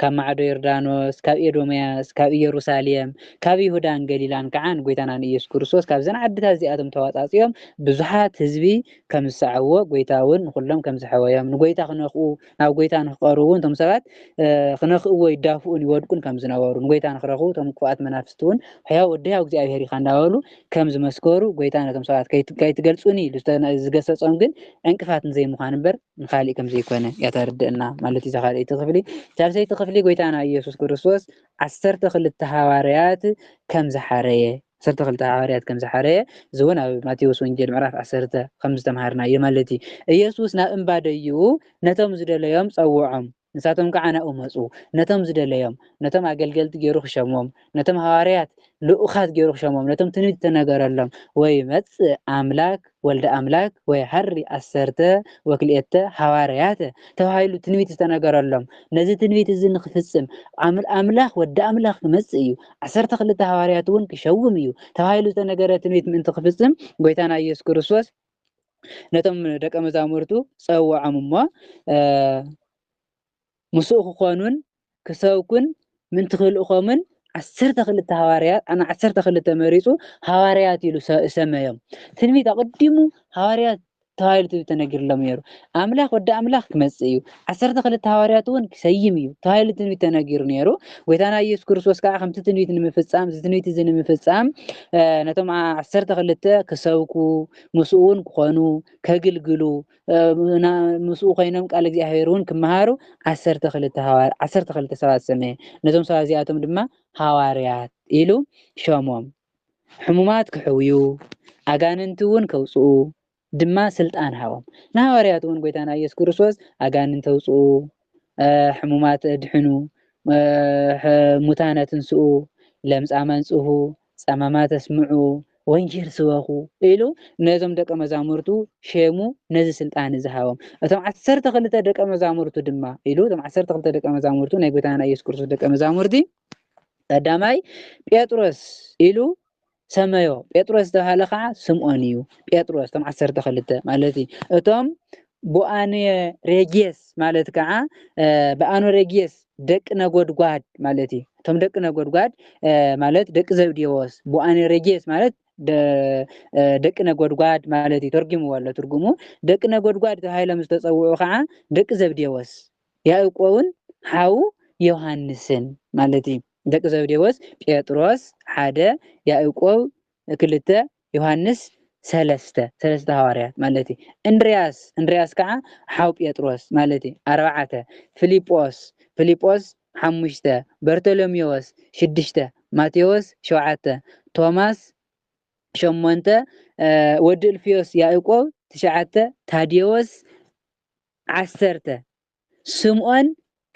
ካብ ማዕዶ ዮርዳኖስ ካብ ኤዶምያስ ካብ ኢየሩሳሌም ካብ ይሁዳን ገሊላን ከዓ ንጎይታና ንኢየሱስ ክርስቶስ ካብዘን ዓድታት እዚኣቶም ተዋፃፂኦም ብዙሓት ህዝቢ ከም ዝሰዓብዎ ጐይታ እውን ንዅሎም ከም ዝሐወዮም ንጐይታ ክነኽኡ ናብ ጐይታ ንክቐርቡ እውን እቶም ሰባት ክነኽእዎ ይዳፍኡን ይወድቁን ከም ዝነበሩ ንጐይታ ንክረኽቡ እቶም ክፉኣት መናፍስቲ እውን ሕያው ወዲ ሕያው እግዚኣብሔር ኢኻ እንዳበሉ ከም ዝመስከሩ ጐይታ ነቶም ሰባት ከይትገልጹኒ ኢሉ ዝገሰጾም ግን ዕንቅፋት ንዘይምዃን እምበር ንኻሊእ ከም ዘይኮነ እያ ተርድእና ማለት እዩ ካልኣይቲ ክፍሊ ሳልሰይቲ ክፍሊ ጐይታና ኢየሱስ ክርስቶስ ዓሰርተ ክልተ ሃዋርያት ከም ዝሓረየ ዓሰርተ ክልተ ሃዋርያት ከም ዝሓረየ፣ እዚ እውን ኣብ ማቴዎስ ወንጌል ምዕራፍ ዓሰርተ ኸም ዝተምሃርናዮ ማለት እዩ። ኢየሱስ ናብ እምባ ደይቡ ነቶም ዝደለዮም ጸውዖም፣ ንሳቶም ከዓ ናብኡ መጹ። ነቶም ዝደለዮም፣ ነቶም ኣገልገልቲ ገይሩ ክሸሞም፣ ነቶም ሃዋርያት ልኡኻት ገይሩ ክሸሞም፣ ነቶም ትንቢት እተነገረሎም ወይ መጽእ ኣምላክ፣ ወልደ ኣምላክ ወይ ሐሪ ኣሰርተ ወክልኤተ ሐዋርያተ ተባሂሉ ትንቢት ዝተነገረሎም ነዚ ትንቢት እዚ ንክፍጽም ኣም ኣምላክ ወዲ ኣምላክ ክመጽእ እዩ ዓሰርተ ክልተ ሐዋርያት እውን ክሸውም እዩ ተባሂሉ ዝተነገረ ትንቢት ምእንቲ ክፍጽም ጎይታና ኢየሱስ ክርስቶስ ነቶም ደቀ መዛሙርቱ ጸውዖም እሞ ምስኡ ክኾኑን ክሰብኩን ምእንቲ ክልእኮምን ዓሰርተ ክልተ ሃዋርያት ኣና ዓሰርተ ክልተ መሪጹ ሃዋርያት ኢሉ ሰመዮም። ትንቢት ኣቐዲሙ ሃዋርያት ተባሂሉ ትንቢት ተነጊርሎም ነይሩ። ኣምላኽ ወዲ ኣምላኽ ክመጽእ እዩ፣ ዓሰርተ ክልተ ሃዋርያት እውን ክሰይም እዩ ተባሂሉ ትንቢት ተነጊሩ ነይሩ። ጎይታና ኢየሱስ ክርስቶስ ከዓ ከምቲ ትንቢት ንምፍጻም እዚ ትንቢት እዚ ንምፍጻም ነቶም ዓሰርተ ክልተ ክሰብኩ ምስኡ እውን ክኾኑ ከግልግሉ ምስኡ ኮይኖም ቃል እግዚኣብሔር እውን ክመሃሩ ዓሰርተ ክልተ ሃዋር ዓሰርተ ክልተ ሰባት ሰመየ ነዞም ሰባት እዚኣቶም ድማ ሃዋርያት ኢሉ ሸሞም ሕሙማት ክሕውዩ ኣጋንንቲ እውን ከውፅኡ ድማ ስልጣን ሃቦም ንሃዋርያት እውን ጎይታና ኢየሱስ ክርስቶስ ኣጋንንቲ ውፅኡ ሕሙማት ድሕኑ ሙታነ ትንስኡ ለምፃም ኣንፅሁ ጸማማት ኣስምዑ፣ ወንጌል ስበኹ ኢሉ ነዞም ደቀ መዛሙርቱ ሼሙ ነዚ ስልጣን እዚ ሃቦም። እቶም ዓሰርተ ክልተ ደቀ መዛሙርቱ ድማ ኢሉ እቶም ዓሰርተ ክልተ ደቀ መዛሙርቱ ናይ ጎይታና ኢየሱስ ክርስቶስ ደቀ መዛሙርቲ ቀዳማይ ጴጥሮስ ኢሉ ሰመዮ ጴጥሮስ ዝተባህለ ከዓ ስምዖን እዩ ጴጥሮስ እቶም ዓሰርተ ክልተ ማለት እዩ እቶም ቦኣንየ ሬጌስ ማለት ከኣ በኣኖ ሬጌስ ደቂ ነጎድጓድ ማለት እዩ። እቶም ደቂ ነጎድጓድ ማለት ደቂ ዘብዴዎስ፣ ቦኣንየ ሬጌስ ማለት ደቂ ነጎድጓድ ማለት እዩ። ተርጉምዎ ኣሎ ትርጉሙ። ደቂ ነጎድጓድ ተባሂሎም ዝተጸውዑ ከኣ ደቂ ዘብዴዎስ፣ ያእቆብን ሓው ዮሃንስን ማለት እዩ። ደቂ ዘብዴዎስ ጴጥሮስ ሓደ፣ ያእቆብ ክልተ ዮሃንስ ሰለስተ ሰለስተ ሃዋርያት ማለት እዩ እንድርያስ እንድርያስ ከዓ ሓው ጴጥሮስ ማለት እዩ ኣርባዕተ ፊልጶስ ፊልጶስ ሓሙሽተ በርቶሎሜዎስ ሽዱሽተ ማቴዎስ ሸውዓተ ቶማስ ሸሞንተ ወዲ እልፍዮስ ያእቆብ ትሽዓተ ታዴዎስ ዓሰርተ ስምኦን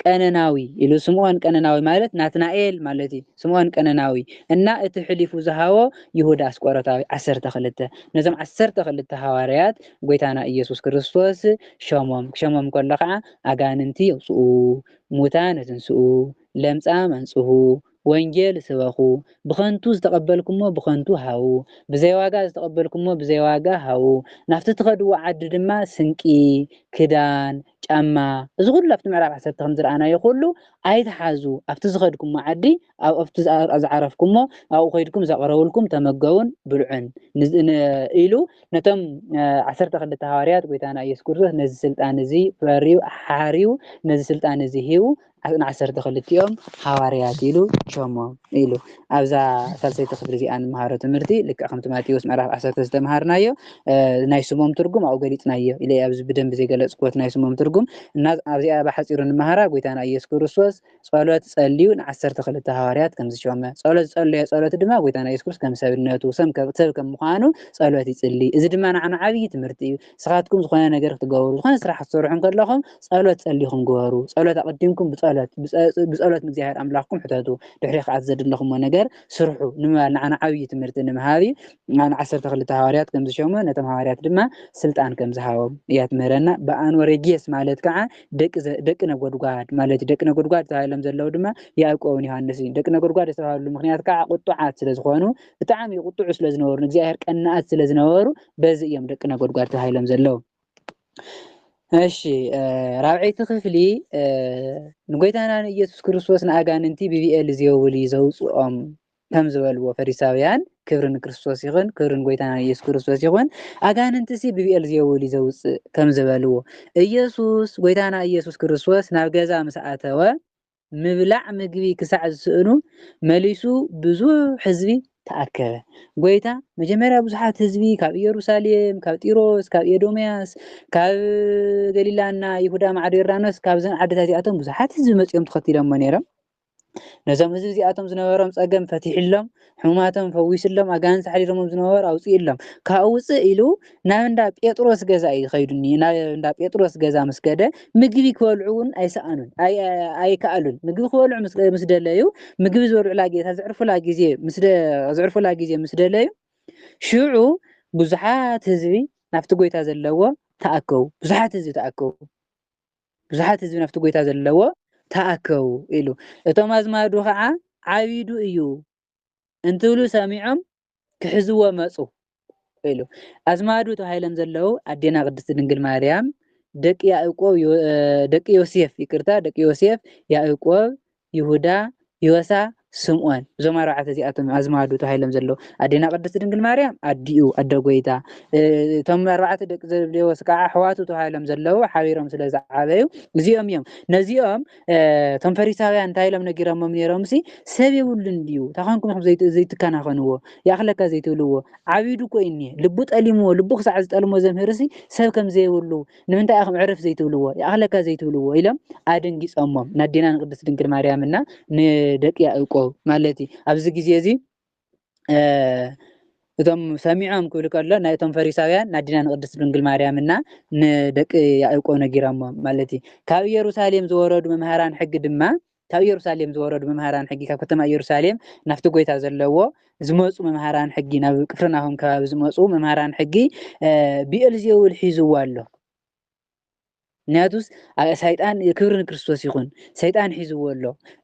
ቀነናዊ ኢሉ ስምኦን ቀነናዊ ማለት ናትናኤል ማለት እዩ ስምኦን ቀነናዊ እና እቲ ሕሊፉ ዝሃቦ ይሁዳ ኣስቆሮታዊ ዓሰርተ ክልተ ነዞም ዓሰርተ ክልተ ሃዋርያት ጎይታና ኢየሱስ ክርስቶስ ሸሞም ክሸሞም ከሎ ከዓ ኣጋንንቲ የውፅኡ ሙታን የትንስኡ ለምፃም ኣንፅሁ ወንጌል ስበኹ፣ ብኸንቱ ዝተቐበልኩሞ ብኸንቱ ሃቡ፣ ብዘይ ዋጋ ዝተቐበልኩሞ ብዘይ ዋጋ ሃቡ፣ ናብቲ ትኸድዎ ዓዲ ድማ ስንቂ፣ ክዳን፣ ጫማ፣ እዚ ኹሉ ኣብቲ ምዕራፍ ዓሰርተ ከም ዝረኣናዮ ኹሉ ኣይትሓዙ፣ ኣብቲ ዝኸድኩሞ ዓዲ ኣብቲ ዝዓረፍኩሞ ኣብኡ ከይድኩም ዘቕረቡልኩም ተመገቡን ብልዑን ኢሉ ነቶም ዓሰርተ ክልተ ሃዋርያት ጎይታና ኢየሱስ ክርስቶስ ነዚ ስልጣን እዚ ፈርዩ ሓርዩ ነዚ ስልጣን እዚ ሂቡ ንዓሰርተ ክልቲኦም ሃዋርያት ኢሉ ሸሞም ኢሉ ኣብዛ ሳልሰይቲ ክፍሊ እዚኣ ንመሃሮ ትምህርቲ ልክዕ ከምቲ ማቴዎስ ምዕራፍ ዓሰርተ ዝተምሃርናዮ ናይ ስሞም ትርጉም ኣብኡ ገሊጽናዮ ኢለ ኣብዚ ብደንቢ ዘይገለጽክዎት ናይ ስሞም ትርጉም እና ኣብዚኣ ብሓጺሩ ንመሃራ ጎይታና ኢየሱስ ክርስቶስ ጸሎት ጸልዩ ንዓሰርተ ክልተ ሃዋርያት ከም ዝሾመ ጸሎት ዝጸለዮ ጸሎት ድማ ጎይታና ኢየሱስ ክርስቶስ ከም ሰብነቱ ሰብ ከም ምዃኑ ጸሎት ይጽሊ እዚ ድማ ንዓና ዓብዪ ትምህርቲ እዩ ንስኻትኩም ዝኾነ ነገር ክትገብሩ ዝኾነ ስራሕ ክትሰርሑ እንከለኹም ጸሎት ጸሊኹም ግበሩ። ጸሎት ኣቐዲምኩም ብጸሎት ብጸሎት ንእግዚኣብሔር ኣምላኽኩም ሕተቱ። ድሕሪ ከኣ እቲ ዘድለኹምዎ ነገር ስርሑ ንምባል ንዓና ዓብዪ ትምህርቲ ንምሃብ እዩ። ንዓና ዓሰርተ ክልተ ሃዋርያት ከም ዝሸሞ ነቶም ሃዋርያት ድማ ስልጣን ከም ዝሃቦም እያ ትምህረና። በኣንወረጌስ ማለት ከዓ ደቂ ዘ- ደቂ ነጎድጓድ ማለት እዩ። ደቂ ነጎድጓድ ተባሂሎም ዘለዉ ድማ ያዕቆብን ዮሃንስ እዩ። ደቂ ነጎድጓድ ዝተባህሉ ምክንያት ከዓ ቁጡዓት ስለ ዝኾኑ ብጣዕሚ ቁጡዑ ስለ ዝነበሩ ንእግዚኣብሔር ቀናኣት ስለ ዝነበሩ በዚ እዮም ደቂ ነጎድጓድ ተባሂሎም ዘለዉ እሺ ራብዐይቲ ክፍሊ ንጎይታና ንኢየሱስ ክርስቶስ ንኣጋንንቲ ብብኤል ዜውል እዩ ዘውፅኦም ከም ዝበልዎ ፈሪሳውያን ክብሪ ንክርስቶስ ይኹን ክብሪ ንጎይታና ንኢየሱስ ክርስቶስ ይኹን ኣጋንንቲ ሲ ብብኤል ዜውል እዩ ዘውፅእ ከም ዝበልዎ ኢየሱስ ጎይታና ኢየሱስ ክርስቶስ ናብ ገዛ ምስ ኣተወ ምብላዕ ምግቢ ክሳዕ ዝስእኑ መሊሱ ብዙሕ ህዝቢ ተኣከበ። ጐይታ መጀመርያ ብዙሓት ህዝቢ ካብ ኢየሩሳሌም፣ ካብ ጢሮስ፣ ካብ ኤዶምያስ፣ ካብ ገሊላና ይሁዳ ማዕዶ ዮርዳኖስ ካብዘን ዓድታት እዚኣቶም ብዙሓት ህዝቢ መጺኦም ተኸቲሎሞ ነይሮም። ነዞም ህዝቢ እዚኣቶም ዝነበሮም ጸገም ፈቲሕሎም ሕሙማቶም ፈዊሱሎም፣ ኣጋንንቲ ኣሕዲሮሞም ዝነበሩ ኣውጺኡሎም። ካብኡ ውጽእ ኢሉ ናብ እንዳ ጴጥሮስ ገዛ እዩ ከይዱ እኒ ናብ እንዳ ጴጥሮስ ገዛ ምስ ከደ ምግቢ ክበልዑ እውን ኣይሰኣኑን ኣይ- ኣይ- ኣይከኣሉን። ምግቢ ክበልዑ ምስ ምስ ደለዩ ምግቢ ዝበልዑላ ጌታ ዘዕርፉላ ግዜ ምስ ደ- ዘዕርፉላ ግዜ ምስ ደለዩ ሽዑ ብዙሓት ህዝቢ ናብቲ ጎይታ ዘለዎ ተኣከቡ። ብዙሓት ህዝቢ ተኣከቡ። ብዙሓት ህዝቢ ናብቲ ጐይታ ዘለዎ ተኣከቡ ኢሉ። እቶም ኣዝማዱ ኸዓ ዓቢዱ እዩ እንትብሉ ሰሚዖም ክሕዝዎ መጹ ኢሉ። ኣዝማዱ ተባሂሎም ዘለዉ ኣዴና ቅድስቲ ድንግል ማርያም፣ ደቂ ያእቆብ ደቂ ዮሴፍ ይቅርታ ደቂ ዮሴፍ፣ ያእቆብ፣ ይሁዳ፣ ዮሳ፣ ስምኦን እዞም ኣርባዕተ እዚኣቶም እዮም ኣዝማዱ ተባሂሎም ዘለዉ። ኣዴና ቅድስት ድንግል ማርያም ኣዲኡ፣ ኣደ ጐይታ፣ እቶም ኣርባዕተ ደቂ ዘብዴዎስ ከኣ ኣሕዋቱ ተባሂሎም ዘለዉ ሓቢሮም ስለ ዝዓበዩ እዚኦም እዮም። ነዚኦም እቶም ፈሪሳውያን እንታይ ኢሎም ነጊሮሞም ነይሮምሲ ሰብ የብሉን ድዩ እንታይ ኰንኩም ዘይትከናኸንዎ ይኣኽለካ ዘይትብልዎ ዓቢዱ እኮ እዩ እኒሀ ልቡ ጠሊምዎ ልቡ ክሳዕ ዝጠልሞ ዘምህርሲ ሰብ ከም ዘይብሉ ንምንታይ ኢኹም ዕርፍ ዘይትብልዎ ይኣኽለካ ዘይትብልዎ ኢሎም ኣደንጊጾሞም ናዴና ንቅድስት ድንግል ማርያምና ንደቂ ያዕቆብ ማለት እዩ ኣብዚ ግዜ እዚ እቶም ሰሚዖም ክብል ከሎ ናይ እቶም ፈሪሳውያን ናዲና ንቅድስት ድንግል ማርያምና ንደቂ ያዕቆብ ነጊሮሞም ማለት እዩ ካብ ኢየሩሳሌም ዝወረዱ መምሃራን ሕጊ ድማ ካብ ኢየሩሳሌም ዝወረዱ መምሃራን ሕጊ ካብ ከተማ ኢየሩሳሌም ናብቲ ጐይታ ዘለዎ ዝመጹ መምሃራን ሕጊ ናብ ቅፍርናሆም ከባቢ ዝመጹ መምሃራን ሕጊ ብኤልዜውል ሒዝዎ ኣሎ ምክንያቱስ ሰይጣን ክብሪ ንክርስቶስ ይኹን ሰይጣን ሒዝዎ ኣሎ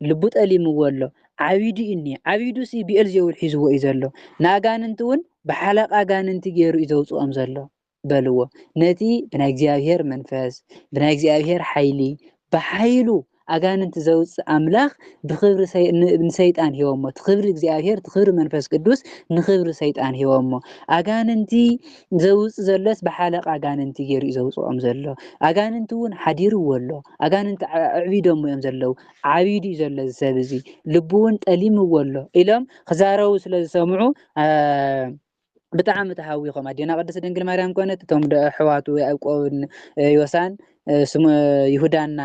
ልቡ ጠሊምዎ ኣሎ ዓቢዱ እዩ እኒ ዓቢዱ ሲ ብኤልዜውል ሒዝዎ እዩ ዘሎ ንኣጋንንቲ እውን ብሓለቃ ኣጋንንቲ ገይሩ እዩ ዘውፅኦም ዘሎ በልዎ ነቲ ብናይ እግዚኣብሔር መንፈስ ብናይ እግዚኣብሔር ሓይሊ ብሓይሉ ኣጋንንቲ ዘውፅእ ኣምላኽ ብክብሪ ንሰይጣን ሂቦሞ እቲ ክብሪ እግዚኣብሔር እቲ ክብሪ መንፈስ ቅዱስ ንክብሪ ሰይጣን ሂቦሞ ኣጋንንቲ ዘውፅ ዘሎስ ብሓለቃ ኣጋንንቲ ገይሩ እዩ ዘውፅኦም ዘሎ ኣጋንንቲ እውን ሓዲርዎ ኣሎ ኣጋንንቲ ኣዕቢዶሞ እዮም ዘለው ዓቢዱ እዩ ዘሎ እዚ ሰብ እዚ ልቡ እውን ጠሊምዎ ኣሎ ኢሎም ክዛረቡ ስለ ዝሰምዑ ብጣዕሚ ተሃዊኾም ኣዴና ቅድስት ድንግል ማርያም ኮነት እቶም ኣሕዋቱ ያዕቆብን ዮሳን ይሁዳና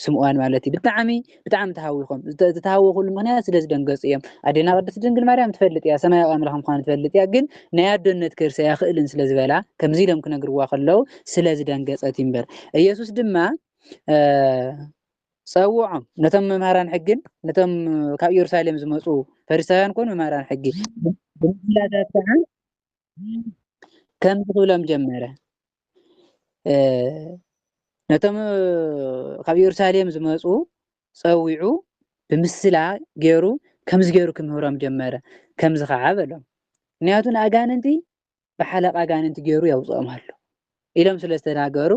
ስምዖን ማለት እዩ ብጣዕሚ ብጣዕሚ ተሃዊኾም ዝተሃወኹሉ ምክንያት ስለ ዝደንገጹ እዮም ኣዴና ቅድስት ድንግል ማርያም ትፈልጥ እያ ሰማያዊ ኣምላኽ ምዃኑ ትፈልጥ እያ ግን ናይ ኣዶነት ከርሰ ያኽእልን ስለ ዝበላ ከምዚ ኢሎም ክነግርዋ ከለዉ ስለ ዝደንገጸት እዩ እምበር ኢየሱስ ድማ ጸውዖም ነቶም መምህራን ሕግን ነቶም ካብ ኢየሩሳሌም ዝመጹ ፈሪሳውያን ኮኑ መምህራን ሕጊ ብምስላታት ከዓ ከምዚ ክብሎም ጀመረ ነቶም ካብ ኢየሩሳሌም ዝመጹ ጸዊዑ ብምስላ ገይሩ ከምዚ ገይሩ ክምህሮም ጀመረ ከምዚ ከዓ በሎም ምክንያቱ ንኣጋንንቲ ብሓለቓ ኣጋንንቲ ገይሩ የውጽኦም ኣሎ ኢሎም ስለ ዝተናገሩ፣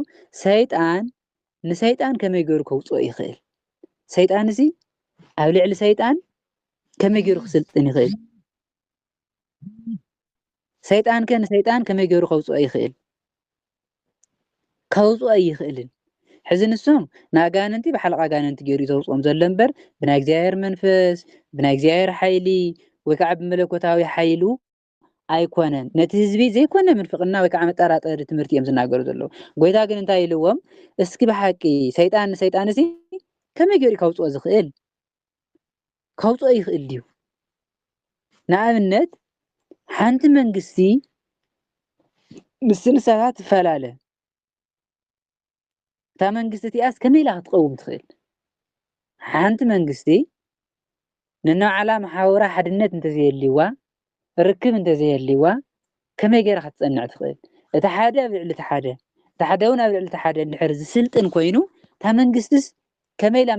ሰይጣን ንሰይጣን ከመይ ገይሩ ከውጽኦ ይኽእል? ሰይጣንሲ ኣብ ልዕሊ ሰይጣን ከመይ ገይሩ ክስልጥን ይኽእል? ሰይጣን ከ ንሰይጣን ከመይ ገይሩ ከውፅኦ ይኽእል ከውፅኦ ኣይኽእልን ሕዚ ንሶም ንኣጋንንቲ ብሓለቃ ኣጋንንቲ ገይሩ ዘውፅኦም ዘሎ እምበር ብናይ እግዚኣብሔር መንፈስ ብናይ እግዚኣብሔር ሓይሊ ወይ ከዓ ብመለኮታዊ ሓይሉ ኣይኮነን ነቲ ህዝቢ ዘይኮነ ምንፍቅና ወይ ከዓ መጠራጠሪ ትምህርቲ እዮም ዝናገሩ ዘለዉ ጎይታ ግን እንታይ ኢልዎም እስኪ ብሓቂ ሰይጣን ንሰይጣን እዚ ከመይ ገይሩ ከውፅኦ ዝኽእል ከውፅኦ ይኽእል ድዩ ንኣብነት ሓንቲ መንግስቲ ምስ ንሳታት ትፈላለ እታ መንግስቲ እቲኣስ ከመይ ኢላ ክትቐውም ትኽእል? ሓንቲ መንግስቲ ንናዓላ መሓውራ ሓድነት እንተዘየልዋ ርክብ እንተዘየልዋ ከመይ ገይራ ክትጸንዕ ትኽእል? እቲ ሓደ ኣብ ልዕሊ እቲ ሓደ እቲ ሓደ እውን ኣብ ልዕሊ እቲ ሓደ እንድሕር ዝስልጥን ኮይኑ እታ መንግስትስ ከመይ ኢላ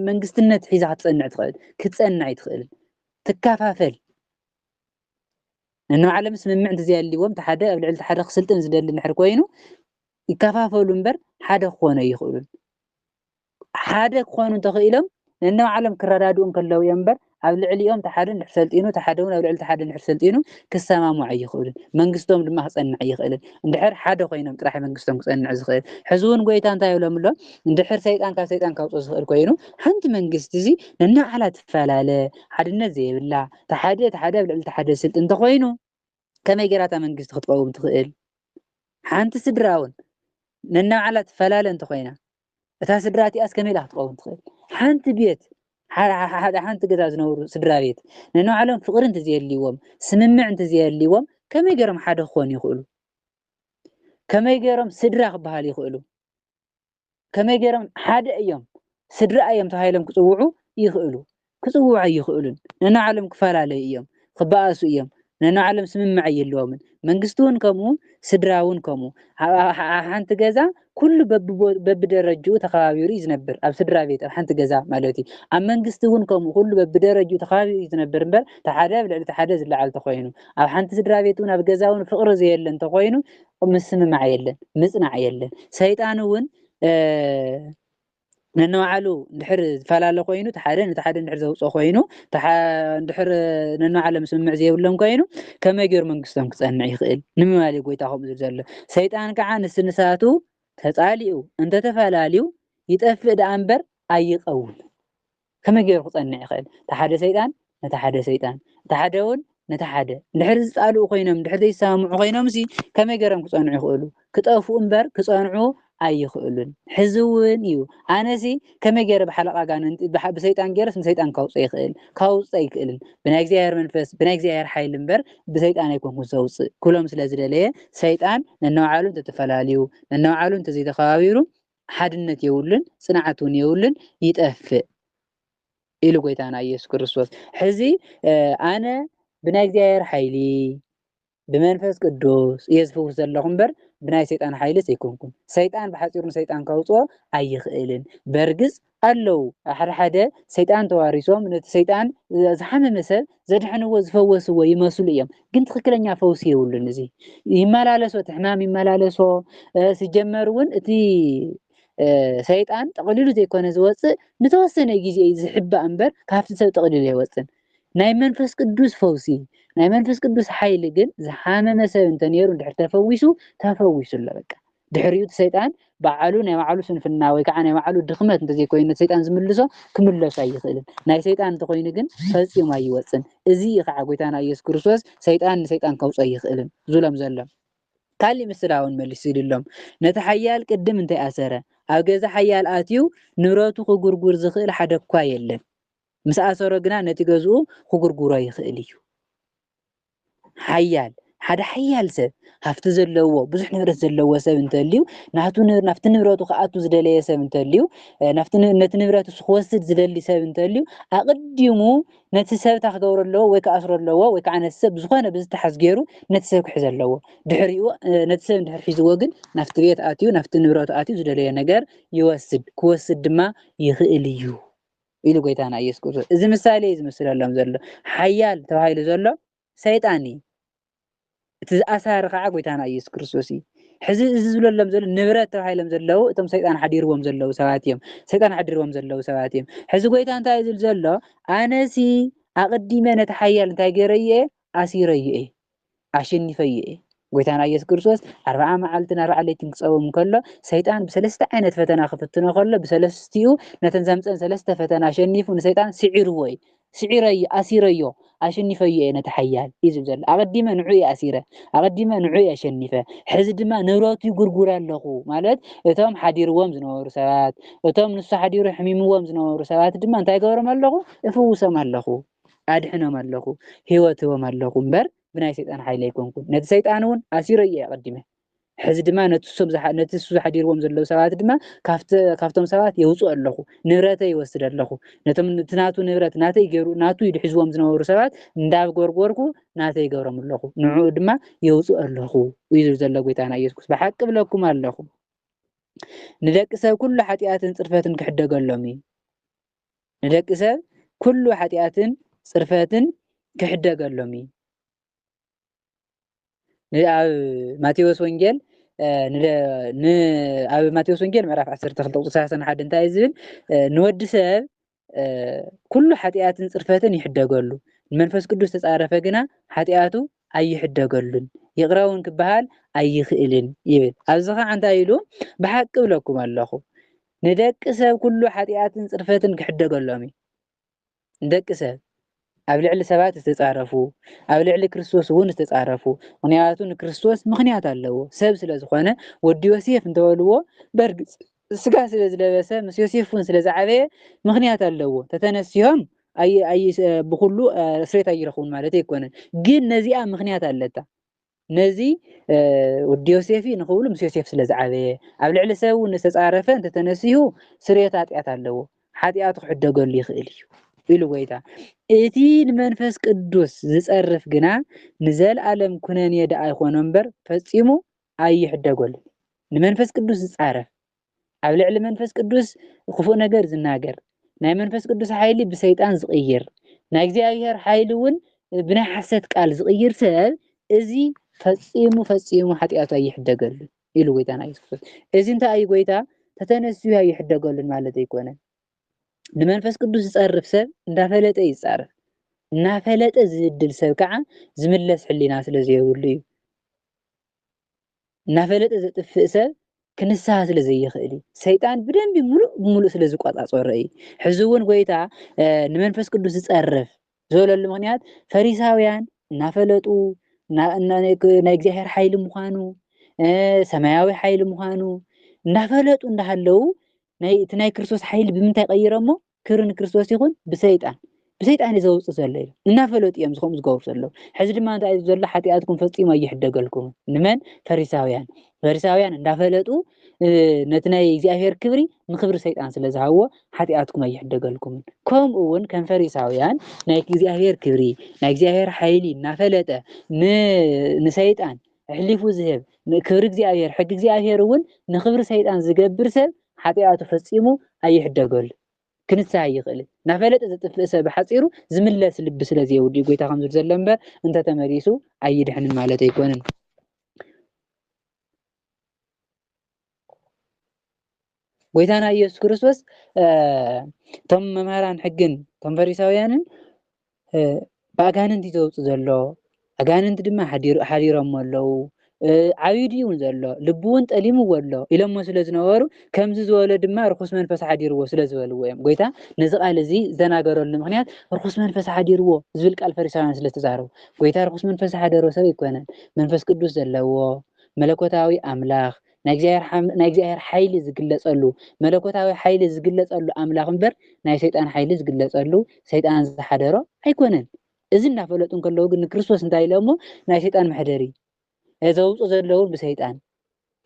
መንግስትነት ሒዛ ክትጸንዕ ትኽእል? ክትጸንዕ ኣይትኽእልን። ትከፋፈል ንናዓሎም ስምምዕ እንተዘይኣልዎም እቲ ሓደ ኣብ ልዕሊ እቲ ሓደ ክስልጥን ዝደሊ እንድሕር ኮይኑ ይከፋፈሉ እምበር ሓደ ክኾኑ ኣይኽእሉን። ሓደ ክኾኑ እንተኽኢሎም ነንባዕሎም ክረዳድኡ እንከለዉ እዮም እምበር ኣብ ልዕሊኦም እቲ ሓደ እንድሕር ሰልጢኑ እቲ ሓደ እውን ኣብ ልዕሊ እቲ ሓደ እንድሕር ሰልጢኑ ክሰማምዑ ኣይኽእሉን። መንግስቶም ድማ ክጸንዕ ኣይኽእልን። እንድሕር ሓደ ኮይኖም ጥራሕ መንግስቶም ክጸንዕ ዝኽእል። ሕዚ እውን ጎይታ እንታይ ይብሎም ኣሎ? እንድሕር ሰይጣን ካብ ሰይጣን ከውጽኦ ዝኽእል ኮይኑ ሓንቲ መንግስቲ እዚ ነናባዕላ ትፈላለ ሓድነት ዘይብላ እቲ ሓደ እቲ ሓደ ኣብ ልዕሊ እቲ ሓደ ዝስልጥ እንተኾይኑ ከመይ ጌራ እታ መንግስቲ ክትቐውም ትኽእል? ሓንቲ ስድራ እውን ነናባዕላ ትፈላለ እንተኾይና እታ ስድራ እቲኣስ ከመይ ኢላ ክትቐውም ትኽእል? ሓንቲ ቤት ሓደ ሓንቲ ገዛ ዝነብሩ ስድራ ቤት ነናባዕሎም ፍቕሪ እንተዘየልይዎም ስምምዕ እንተዘየልይዎም ከመይ ገይሮም ሓደ ክኾኑ ይኽእሉ? ከመይ ገይሮም ስድራ ክበሃሉ ይኽእሉ? ከመይ ገይሮም ሓደ እዮም ስድራ እዮም ተባሂሎም ክጽውዑ ይኽእሉ ክጽውዑ ኣይኽእሉን ነንባዕሎም ክፈላለዩ እዮም ክበኣሱ እዮም ነንባዕሎም ስምምዕ ኣይህልዎምን መንግስቲ እውን ከምኡ ስድራ እውን ከምኡ ኣብ ሓንቲ ገዛ ኩሉ በብደረጅኡ ተኸባቢሩ እዩ ዝነብር ኣብ ስድራ ቤት ኣብ ሓንቲ ገዛ ማለት እዩ ኣብ መንግስቲ እውን ከምኡ ኩሉ በብደረጅኡ ተኸባቢሩ እዩ ዝነብር እምበር ተሓደ ኣብ ልዕሊ ተሓደ ዝለዓል ተኮይኑ ኣብ ሓንቲ ስድራ ቤት እውን ኣብ ገዛ እውን ፍቕሪ ዘየለ እንተኮይኑ ምስምማዕ የለን ምፅናዕ የለን ሰይጣን እውን ነንባዕሉ እንድሕር ዝፈላለ ኮይኑ እቲ ሓደ ነቲ ሓደ እንድሕር ዘውፅኦ ኮይኑ እንድሕር ነንባዕሎም ስምምዕ ዘይብሎም ኮይኑ ከመይ ገይሩ መንግስቶም ክፀንዕ ይኽእል ንምባል እዩ ጎይታ ከምኡ ዝብል ዘሎ ሰይጣን ከዓ ንስ ንሳቱ ተፃሊኡ እንተተፈላለዩ ይጠፍእ ደኣ እምበር ኣይቀውም ከመይ ገይሩ ክጸንዕ ይኽእል? እቲ ሓደ ሰይጣን ነቲ ሓደ ሰይጣን፣ እቲ ሓደውን ነቲ ሓደ፣ እንድሕር ዝጣልኡ ኮይኖም፣ እንድሕር ዘይሰማምዑ ኮይኖምሲ ከመይ ገይሮም ክጸንዑ ይኽእሉ? ክጠፍኡ እምበር ክጸንዑ ኣይኽእሉን። ሕዚ እውን እዩ። ኣነሲ ከመይ ገይረ ብሓለቓ ኣጋንንቲ፣ ብሰይጣን ገይረስ ንሰይጣን ከውጽእ ይኽእል? ከውጽእ ኣይክእልን። ብናይ እግዚኣብሔር መንፈስ፣ ብናይ እግዚኣብሔር ሓይሊ እምበር ብሰይጣን ኣይኮንኩን ዘውጽእ ክብሎም ስለ ዝደለየ፣ ሰይጣን ነንባዕሉ እንተተፈላልዩ፣ ነንባዕሉ እንተዘይተኸባቢሩ፣ ሓድነት የብሉን፣ ጽንዓት እውን የብሉን፣ ይጠፍእ ኢሉ ጐይታና ኢየሱስ ክርስቶስ። ሕዚ ኣነ ብናይ እግዚኣብሔር ሓይሊ ብመንፈስ ቅዱስ እየ ዝፍውስ ዘለኹ እምበር ብናይ ሰይጣን ሓይልስ ኣይኮንኩን። ሰይጣን ብሓጺሩ ንሰይጣን ከውጽኦ ኣይኽእልን። በርግጽ ኣለዉ ኣሓደሓደ ሰይጣን ተዋሪሶም ነቲ ሰይጣን ዝሓመመ ሰብ ዘድሐንዎ ዝፈወስዎ ይመስሉ እዮም ግን ትክክለኛ ፈውሲ የብሉን እዚ ይመላለሶ እቲ ሕማም ይመላለሶ ሲጀመር እውን እቲ ሰይጣን ጠቕሊሉ ዘይኮነ ዝወፅእ ንተወሰነ ግዜ እዩ ዝሕባእ እምበር ካብቲ ሰብ ጠቕሊሉ ኣይወፅን ናይ መንፈስ ቅዱስ ፈውሲ ናይ መንፈስ ቅዱስ ሓይሊ ግን ዝሓመመ ሰብ እንተነይሩ እንድሕር ተፈዊሱ ተፈዊሱ ኣሎ በቃ ድሕሪኡ እቲ ሰይጣን በዓሉ ናይ በዓሉ ስንፍና ወይ ከዓ ናይ በዓሉ ድኽመት እንተዘይኮይኑ ነቲ ሰይጣን ዝምልሶ ክምለሱ ኣይኽእልን ናይ ሰይጣን እንተኮይኑ ግን ፈፂሙ ኣይወፅን እዚ እዩ ከዓ ጎይታና ኢየሱስ ክርስቶስ ሰይጣን ንሰይጣን ከውፅኦ ኣይኽእልን ዝብሎም ዘሎ ካሊእ ምስላ እውን መሊሱ ይድሎም ነቲ ሓያል ቅድም እንታይ ኣሰረ ኣብ ገዛ ሓያል ኣትዩ ንብረቱ ክጉርጉር ዝኽእል ሓደ እኳ የለን ምስ ኣሰሮ ግና ነቲ ገዝኡ ክጉርጉሮ ይኽእል እዩ ሓያል ሓደ ሓያል ሰብ ሃፍቲ ዘለዎ ብዙሕ ንብረት ዘለዎ ሰብ እንተልዩ ናብቲ ንብረቱ ክኣቱ ዝደለየ ሰብ እንተልዩ ነቲ ንብረት እሱ ክወስድ ዝደሊ ሰብ እንተልዩ ኣቕዲሙ ነቲ ሰብ እታ ክገብሮ ኣለዎ ወይ ክኣስሮ ኣለዎ ወይ ከዓ ነቲ ሰብ ብዝኾነ ብዝተሓዝ ገይሩ ነቲ ሰብ ክሕዘ ኣለዎ ድሕሪኡ ነቲ ሰብ እንድሕር ሒዝዎ ግን ናብቲ ቤት ኣትዩ ናብቲ ንብረቱ ኣትዩ ዝደለየ ነገር ይወስድ ክወስድ ድማ ይኽእል እዩ ኢሉ ጎይታና ኢየሱስ ክርስቶስ እዚ ምሳሌ እዩ ዝምስለሎም ዘሎ ሓያል ተባሂሉ ዘሎ ሰይጣን እዩ እቲ ዝኣሳሪ ከዓ ጎይታና ኢየሱስ ክርስቶስ እዩ ሕዚ እዚ ዝብለሎም ዘሎ ንብረት ተባሂሎም ዘለዉ እቶም ሰይጣን ሓዲርዎም ዘለዉ ሰባት እዮም ሰይጣን ሓዲርዎም ዘለዉ ሰባት እዮም ሕዚ ጎይታ እንታይ እዩ ዝብል ዘሎ ኣነሲ ኣቕዲመ ነቲ ሓያል እንታይ ገይረዮ እየ ኣሲረዮ እየ ኣሸኒፈዮ እየ። ጎይታና ኢየሱስ ክርስቶስ ኣርብዓ መዓልትን ኣርብዓ ለይትን ክጸውም ከሎ ሰይጣን ብሰለስተ ዓይነት ፈተና ክፍትኖ ከሎ ብሰለስቲኡ ነተን ዘምጸን ሰለስተ ፈተና ኣሸኒፉ ንሰይጣን ስዒርዎ እዩ ስዒረዮ ኣሲረዮ ኣሸኒፈዮ እየ ነቲ ሓያል እዩ ዝብል ዘሎ ኣቐዲመ ንዑ እየ ኣሲረ ኣቐዲመ ንዑ እየ ኣሸኒፈ ሕዚ ድማ ንብረቱ ይጉርጉር ኣለኹ ማለት እቶም ሓዲርዎም ዝነበሩ ሰባት እቶም ንሱ ሓዲሩ ሕሚምዎም ዝነበሩ ሰባት ድማ እንታይ ገብሮም ኣለኹ እፍውሶም ኣለኹ ኣድሕኖም ኣለኹ፣ ህይወት ህቦም ኣለኹ እምበር ብናይ ሰይጣን ሓይሊ ኣይኮንኩን። ነቲ ሰይጣን እውን ኣሲረዮ እየ ኣቐዲመ። ሕዚ ድማ ነቲ እሱ ነቲ እሱ ዘሕዲርዎም ዘለዉ ሰባት ድማ ካብቲ ካብቶም ሰባት የውጽኦ ኣለኹ፣ ንብረተይ ይወስድ ኣለኹ። ነቶም እቲ ናቱ ንብረት ናተይ ገይሩ ናቱ ኢሉ ሒዝዎም ዝነበሩ ሰባት እንዳጎርጎርኩ ናተይ ይገብሮም ኣለኹ፣ ንዕኡ ድማ የውጽኦ ኣለኹ እዩ ዝብል ዘሎ ጎይታና ኢየሱስ ክርስቶስ። ብሓቂ እብለኩም ኣለኹ ንደቂ ሰብ ኩሉ ሓጢኣትን ጽርፈትን ክሕደገሎም እዩ። ንደቂ ሰብ ኩሉ ሓጢኣትን ጽርፈትን ክሕደገሎም እዩ። ን ኣብ ማቴዎስ ወንጌል ን ኣብ ማቴዎስ ወንጌል ምዕራፍ 12 ቁጽሪ 31 እንታይ እዩ ዝብል? ንወዲ ሰብ ኩሉ ሓጢኣትን ጽርፈትን ይሕደገሉ፣ ንመንፈስ ቅዱስ ተጻረፈ ግና ሓጢኣቱ ኣይሕደገሉን ይቕረ እውን ክበሃል ኣይኽእልን ይብል። ኣብዚ ኸዓ እንታይ ኢሉ? ብሓቂ እብለኩም ኣለኹ ንደቂ ሰብ ኩሉ ሓጢኣትን ጽርፈትን ክሕደገሎም እዩ። ንደቂ ሰብ ኣብ ልዕሊ ሰባት ዝተጻረፉ ኣብ ልዕሊ ክርስቶስ እውን ዝተጻረፉ ምክንያቱ ንክርስቶስ ምክንያት ኣለዎ ሰብ ስለ ዝኾነ ወዲ ዮሴፍ እንተበልዎ በርግጽ ስጋ ስለ ዝለበሰ ምስ ዮሴፍ እውን ስለ ዝዓበየ ምክንያት ኣለዎ ተተነሲሆም ብኩሉ ስሬት ኣይረኽቡን ማለት ኣይኮነን ግን ነዚኣ ምክንያት ኣለታ ነዚ ወዲ ዮሴፍ ንክብሉ ምስ ዮሴፍ ስለ ዝዓበየ ኣብ ልዕሊ ሰብ እውን ዝተጻረፈ እንተተነሲሁ ስርየት ኣጢኣት ኣለዎ ሓጢኣቱ ክሕደገሉ ይኽእል እዩ ኢሉ ጎይታ እቲ ንመንፈስ ቅዱስ ዝጸርፍ ግና ንዘልኣለም ኩነኔ ደኣ ይኾኖ እምበር ፈጺሙ ኣይሕደገሉ ንመንፈስ ቅዱስ ዝጻረፍ ኣብ ልዕሊ መንፈስ ቅዱስ ኽፉእ ነገር ዝናገር፣ ናይ መንፈስ ቅዱስ ሓይሊ ብሰይጣን ዝቕይር፣ ናይ እግዚኣብሄር ሓይሊ እውን ብናይ ሓሰት ቃል ዝቕይር ሰብ እዚ ፈጺሙ ፈጺሙ ሓጢኣቱ ኣይሕደገሉን ኢሉ ጎይታና ኢየሱስ ክርስቶስ። እዚ እንታይ እዩ ጎይታ ተተነስዩ ኣይሕደገሉን ማለት ኣይኮነን። ንመንፈስ ቅዱስ ዝጸርፍ ሰብ እንዳፈለጠ እዩ ዝጻረፍ። እናፈለጠ ዝብድል ሰብ ከዓ ዝምለስ ሕሊና ስለ ዘይብሉ እዩ። እናፈለጠ ዘጥፍእ ሰብ ክንስሃ ስለ ዘይኽእል እዩ። ሰይጣን ብደንቢ ምሉእ ብምሉእ ስለ ዝቆጻጸሮ እዩ። ሕዚ እውን ጎይታ ንመንፈስ ቅዱስ ዝጸርፍ ዝበለሉ ምክንያት ፈሪሳውያን እናፈለጡ ናይ እግዚኣብሔር ሓይሊ ምዃኑ ሰማያዊ ሓይሊ ምዃኑ እንዳፈለጡ እንዳሃለዉ እቲ ናይ ክርስቶስ ሓይሊ ብምንታይ ቀይረሞ ክብሪ ንክርስቶስ ይኹን ብሰይጣን ብሰይጣን እዩ ዘውፅእ ዘሎ ኢሎም እናፈለጡ እዮም ዝኸምኡ ዝገብሩ ዘለዉ ሕዚ ድማ እንታይ እዩ ዘሎ ሓጢኣትኩም ፈፂሙ ኣይሕደገልኩም ንመን ፈሪሳውያን ፈሪሳውያን እንዳፈለጡ ነቲ ናይ እግዚኣብሔር ክብሪ ንክብሪ ሰይጣን ስለ ዝሃብዎ ሓጢኣትኩም ኣይሕደገልኩምን ከምኡ እውን ከም ፈሪሳውያን ናይ እግዚኣብሔር ክብሪ ናይ እግዚኣብሔር ሓይሊ እናፈለጠ ንሰይጣን ኣሕሊፉ ዝህብ ክብሪ እግዚኣብሔር ሕጊ እግዚኣብሔር እውን ንክብሪ ሰይጣን ዝገብር ሰብ ሓጥያቱ ፈጺሙ ኣይሕደገሉን፣ ክንስህ ኣይኽእልን። እናፈለጠ ዘጥፍእ ሰብ ብሓጺሩ ዝምለስ ልቢ ስለ ዘየብሉ'ዩ ጎይታ ከምዚ ዘሎ እምበር እንተ ተመሊሱ ኣይድሕንን ማለት ኣይኮነን። ጎይታና ኢየሱስ ክርስቶስ እቶም መምህራን ሕግን እቶም ፈሪሳውያንን ብኣጋንንቲ ዘውፅ ዘሎ ኣጋንንቲ ድማ ሓዲሮሞ ኣለዉ ዓብዩ ድዩ እውን ዘሎ ልቡ እውን ጠሊምዎ ኣሎ ኢሎሞ ስለ ዝነበሩ ከምዚ ዝበሎ ድማ ርኩስ መንፈስ ሓዲርዎ ስለ ዝበልዎ እዮም ጎይታ ነዚ ቃል እዚ ዝተናገረሉ ምክንያት ርኩስ መንፈስ ሓዲርዎ ዝብል ቃል ፈሪሳውያን ስለ ዝተዛረቡ ጎይታ ርኩስ መንፈስ ሓደሮ ሰብ ኣይኮነን መንፈስ ቅዱስ ዘለዎ መለኮታዊ ኣምላኽ ናይ እግዚኣብሔር ሓይሊ ዝግለጸሉ መለኮታዊ ሓይሊ ዝግለጸሉ ኣምላኽ እምበር ናይ ሰይጣን ሓይሊ ዝግለጸሉ ሰይጣን ዝሓደሮ ኣይኮነን። እዚ እንዳፈለጡ እንከለዉ ግን ንክርስቶስ እንታይ ኢሎሞ ናይ ሰይጣን መሕደሪ ዘውጽኡ ዘለዉ ብሰይጣን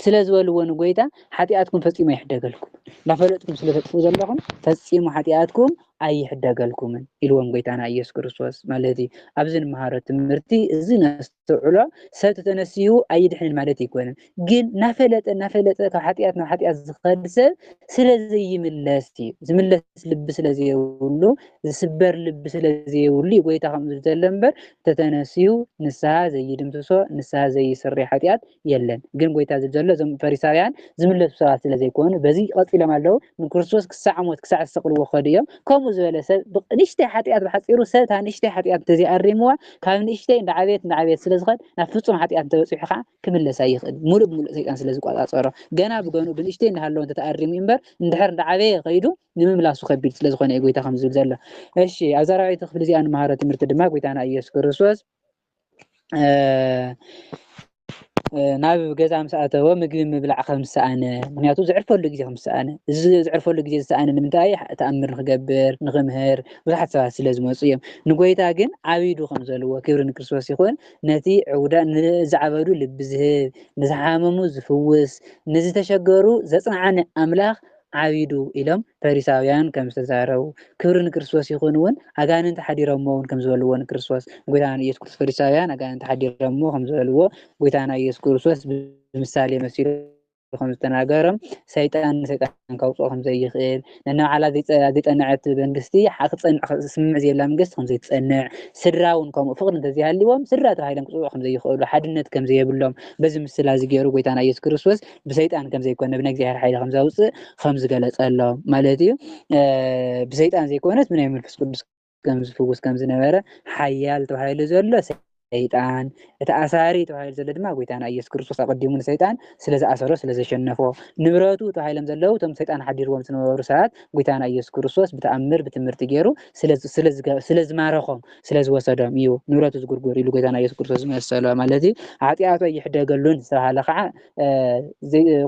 ስለ ዝበልዎ ንጎይታ ሓጢኣትኩም ፈጺሙ ኣይሕደገልኩም እንዳፈለጥኩም ስለ ተጥፍኡ ዘለኹም ፈጺሙ ሓጢኣትኩም ኣይሕደገልኩምን ኢልዎም ጎይታና ኢየሱስ ክርስቶስ ማለት እዩ። ኣብዚ ንመሃሮ ትምህርቲ እዚ ነስ ነስተውዕሎ ሰብ ተተነሲሁ ኣይድሕንን ማለት ኣይኮነን ግን ናፈለጠ ናፈለጠ ካብ ሓጢኣት ናብ ሓጢኣት ዝኸድ ሰብ ስለ ዘይምለስ እዩ ዝምለስ ልቢ ስለ ዘየብሉ ዝስበር ልቢ ስለ ዘየብሉ እዩ ጎይታ ከምኡ ዝተለ እምበር ተተነሲሁ ንስሃ ዘይድምስሶ ንስሃ ዘይስሪ ሓጢኣት የለን ግን ጎይታ ዝብል ዘሎ እዞም ፈሪሳውያን ዝምለሱ ሰባት ስለ ዘይኮኑ በዚ ቀጺሎም ኣለዉ ንክርስቶስ ክሳዕ ሞት ክሳዕ ዝሰቅልዎ ከዱ እዮም ከምኡ ዝበለ ሰብ ንእሽተይ ሓጢኣት ብሓጺሩ ሰብ እታ ንእሽተይ ሓጢኣት እንተዘይኣሪምዋ ካብ ንእሽተይ እንዳዓበየት እንዳዓበየት ስለ ዝኸድ ናብ ፍጹም ሓጢኣት እንተበጺሑ ከዓ ክምለስ ኣይኽእል ሙሉእ ብሙሉእ ሰይጣን ስለ ዝቆጻጸሮ ገና ብገኑ ብንእሽተይ እንዳሃለወ እንተተኣሪሙ እምበር እንድሕር እንዳዓበየ ከይዱ ንምምላሱ ከቢድ ስለ ዝኾነ እዩ ጎይታ ከም ዝብል ዘሎ እሺ ኣብዛ ራብዓይቲ ክፍሊ እዚኣ ንመሃሮ ትምህርቲ ድማ ጎይታና ኢየሱስ ክርስቶስ ናብ ገዛ ምስ ኣተወ ምግቢ ምብላዕ ከም ዝሰኣነ ምክንያቱ ዝዕርፈሉ ግዜ ከም ዝሰኣነ እዚ ዝዕርፈሉ ግዜ ዝሰኣነ ንምንታይ ተኣምር ንክገብር ንክምህር ብዙሓት ሰባት ስለ ዝመፁ እዮም ንጎይታ ግን ዓቢዱ ከም ዘለዎ ክብሪ ንክርስቶስ ይኹን ነቲ ዕውዳ ንዝዓበዱ ልቢ ዝህብ ንዝሓመሙ ዝፍውስ ንዝተሸገሩ ዘፅንዓኒ ኣምላኽ ዓቢዱ ኢሎም ፈሪሳውያን ከም ዝተዛረቡ ክብሪ ንክርስቶስ ይኹን እውን ኣጋንንቲ ሓዲሮሞ እውን ከም ዝበልዎ ንክርስቶስ ጎይታና ኢየሱስ ክርስቶስ ፈሪሳውያን ኣጋንንቲ ሓዲሮሞ ከም ዝበልዎ ጎይታና ኢየሱስ ክርስቶስ ብምሳሌ መሲሉ ከም ዝተናገሮም ሰይጣን ንሰይጣን ከውፅኦ ከም ዘይኽእል ነናባዕላ ዘይፀንዐት መንግስቲ ክፀንዕ ስምምዕ ዘየላ መንግስቲ ከም ዘይትፀንዕ ስድራ እውን ከምኡ ፍቕሪ እንተዘይሃልዎም ስድራ ተባሂሎም ክፅውዑ ከም ዘይኽእሉ ሓድነት ከም ዘየብሎም በዚ ምስላ እዚ ገይሩ ጎይታና ኢየሱስ ክርስቶስ ብሰይጣን ከም ዘይኮነ ብናይ እግዚኣብሔር ሓይሊ ከም ዘውፅእ ከም ዝገለፀሎም ማለት እዩ ብሰይጣን ዘይኮነት ብናይ መንፈስ ቅዱስ ከም ዝፍውስ ከም ዝነበረ ሓያል ተባሂሉ ዘሎ ሰይጣን እቲ ኣሳሪ ተባሂሉ ዘሎ ድማ ጎይታና ኢየሱስ ክርስቶስ ኣቐዲሙ ንሰይጣን ስለ ዝኣሰሮ ስለ ዘሸነፎ ንብረቱ ተባሂሎም ዘለዉ እቶም ሰይጣን ሓዲርዎም ዝነበሩ ሰባት ጎይታና ኢየሱስ ክርስቶስ ብተኣምር ብትምህርቲ ገይሩ ስለ ዝማረኾም ስለ ዝወሰዶም እዩ ንብረቱ ዝጉርጉር ኢሉ ጎይታና ኢየሱስ ክርስቶስ ዝመሰሎ ማለት እዩ ሓጢኣቶ ይሕደገሉን ዝተባሃለ ከዓ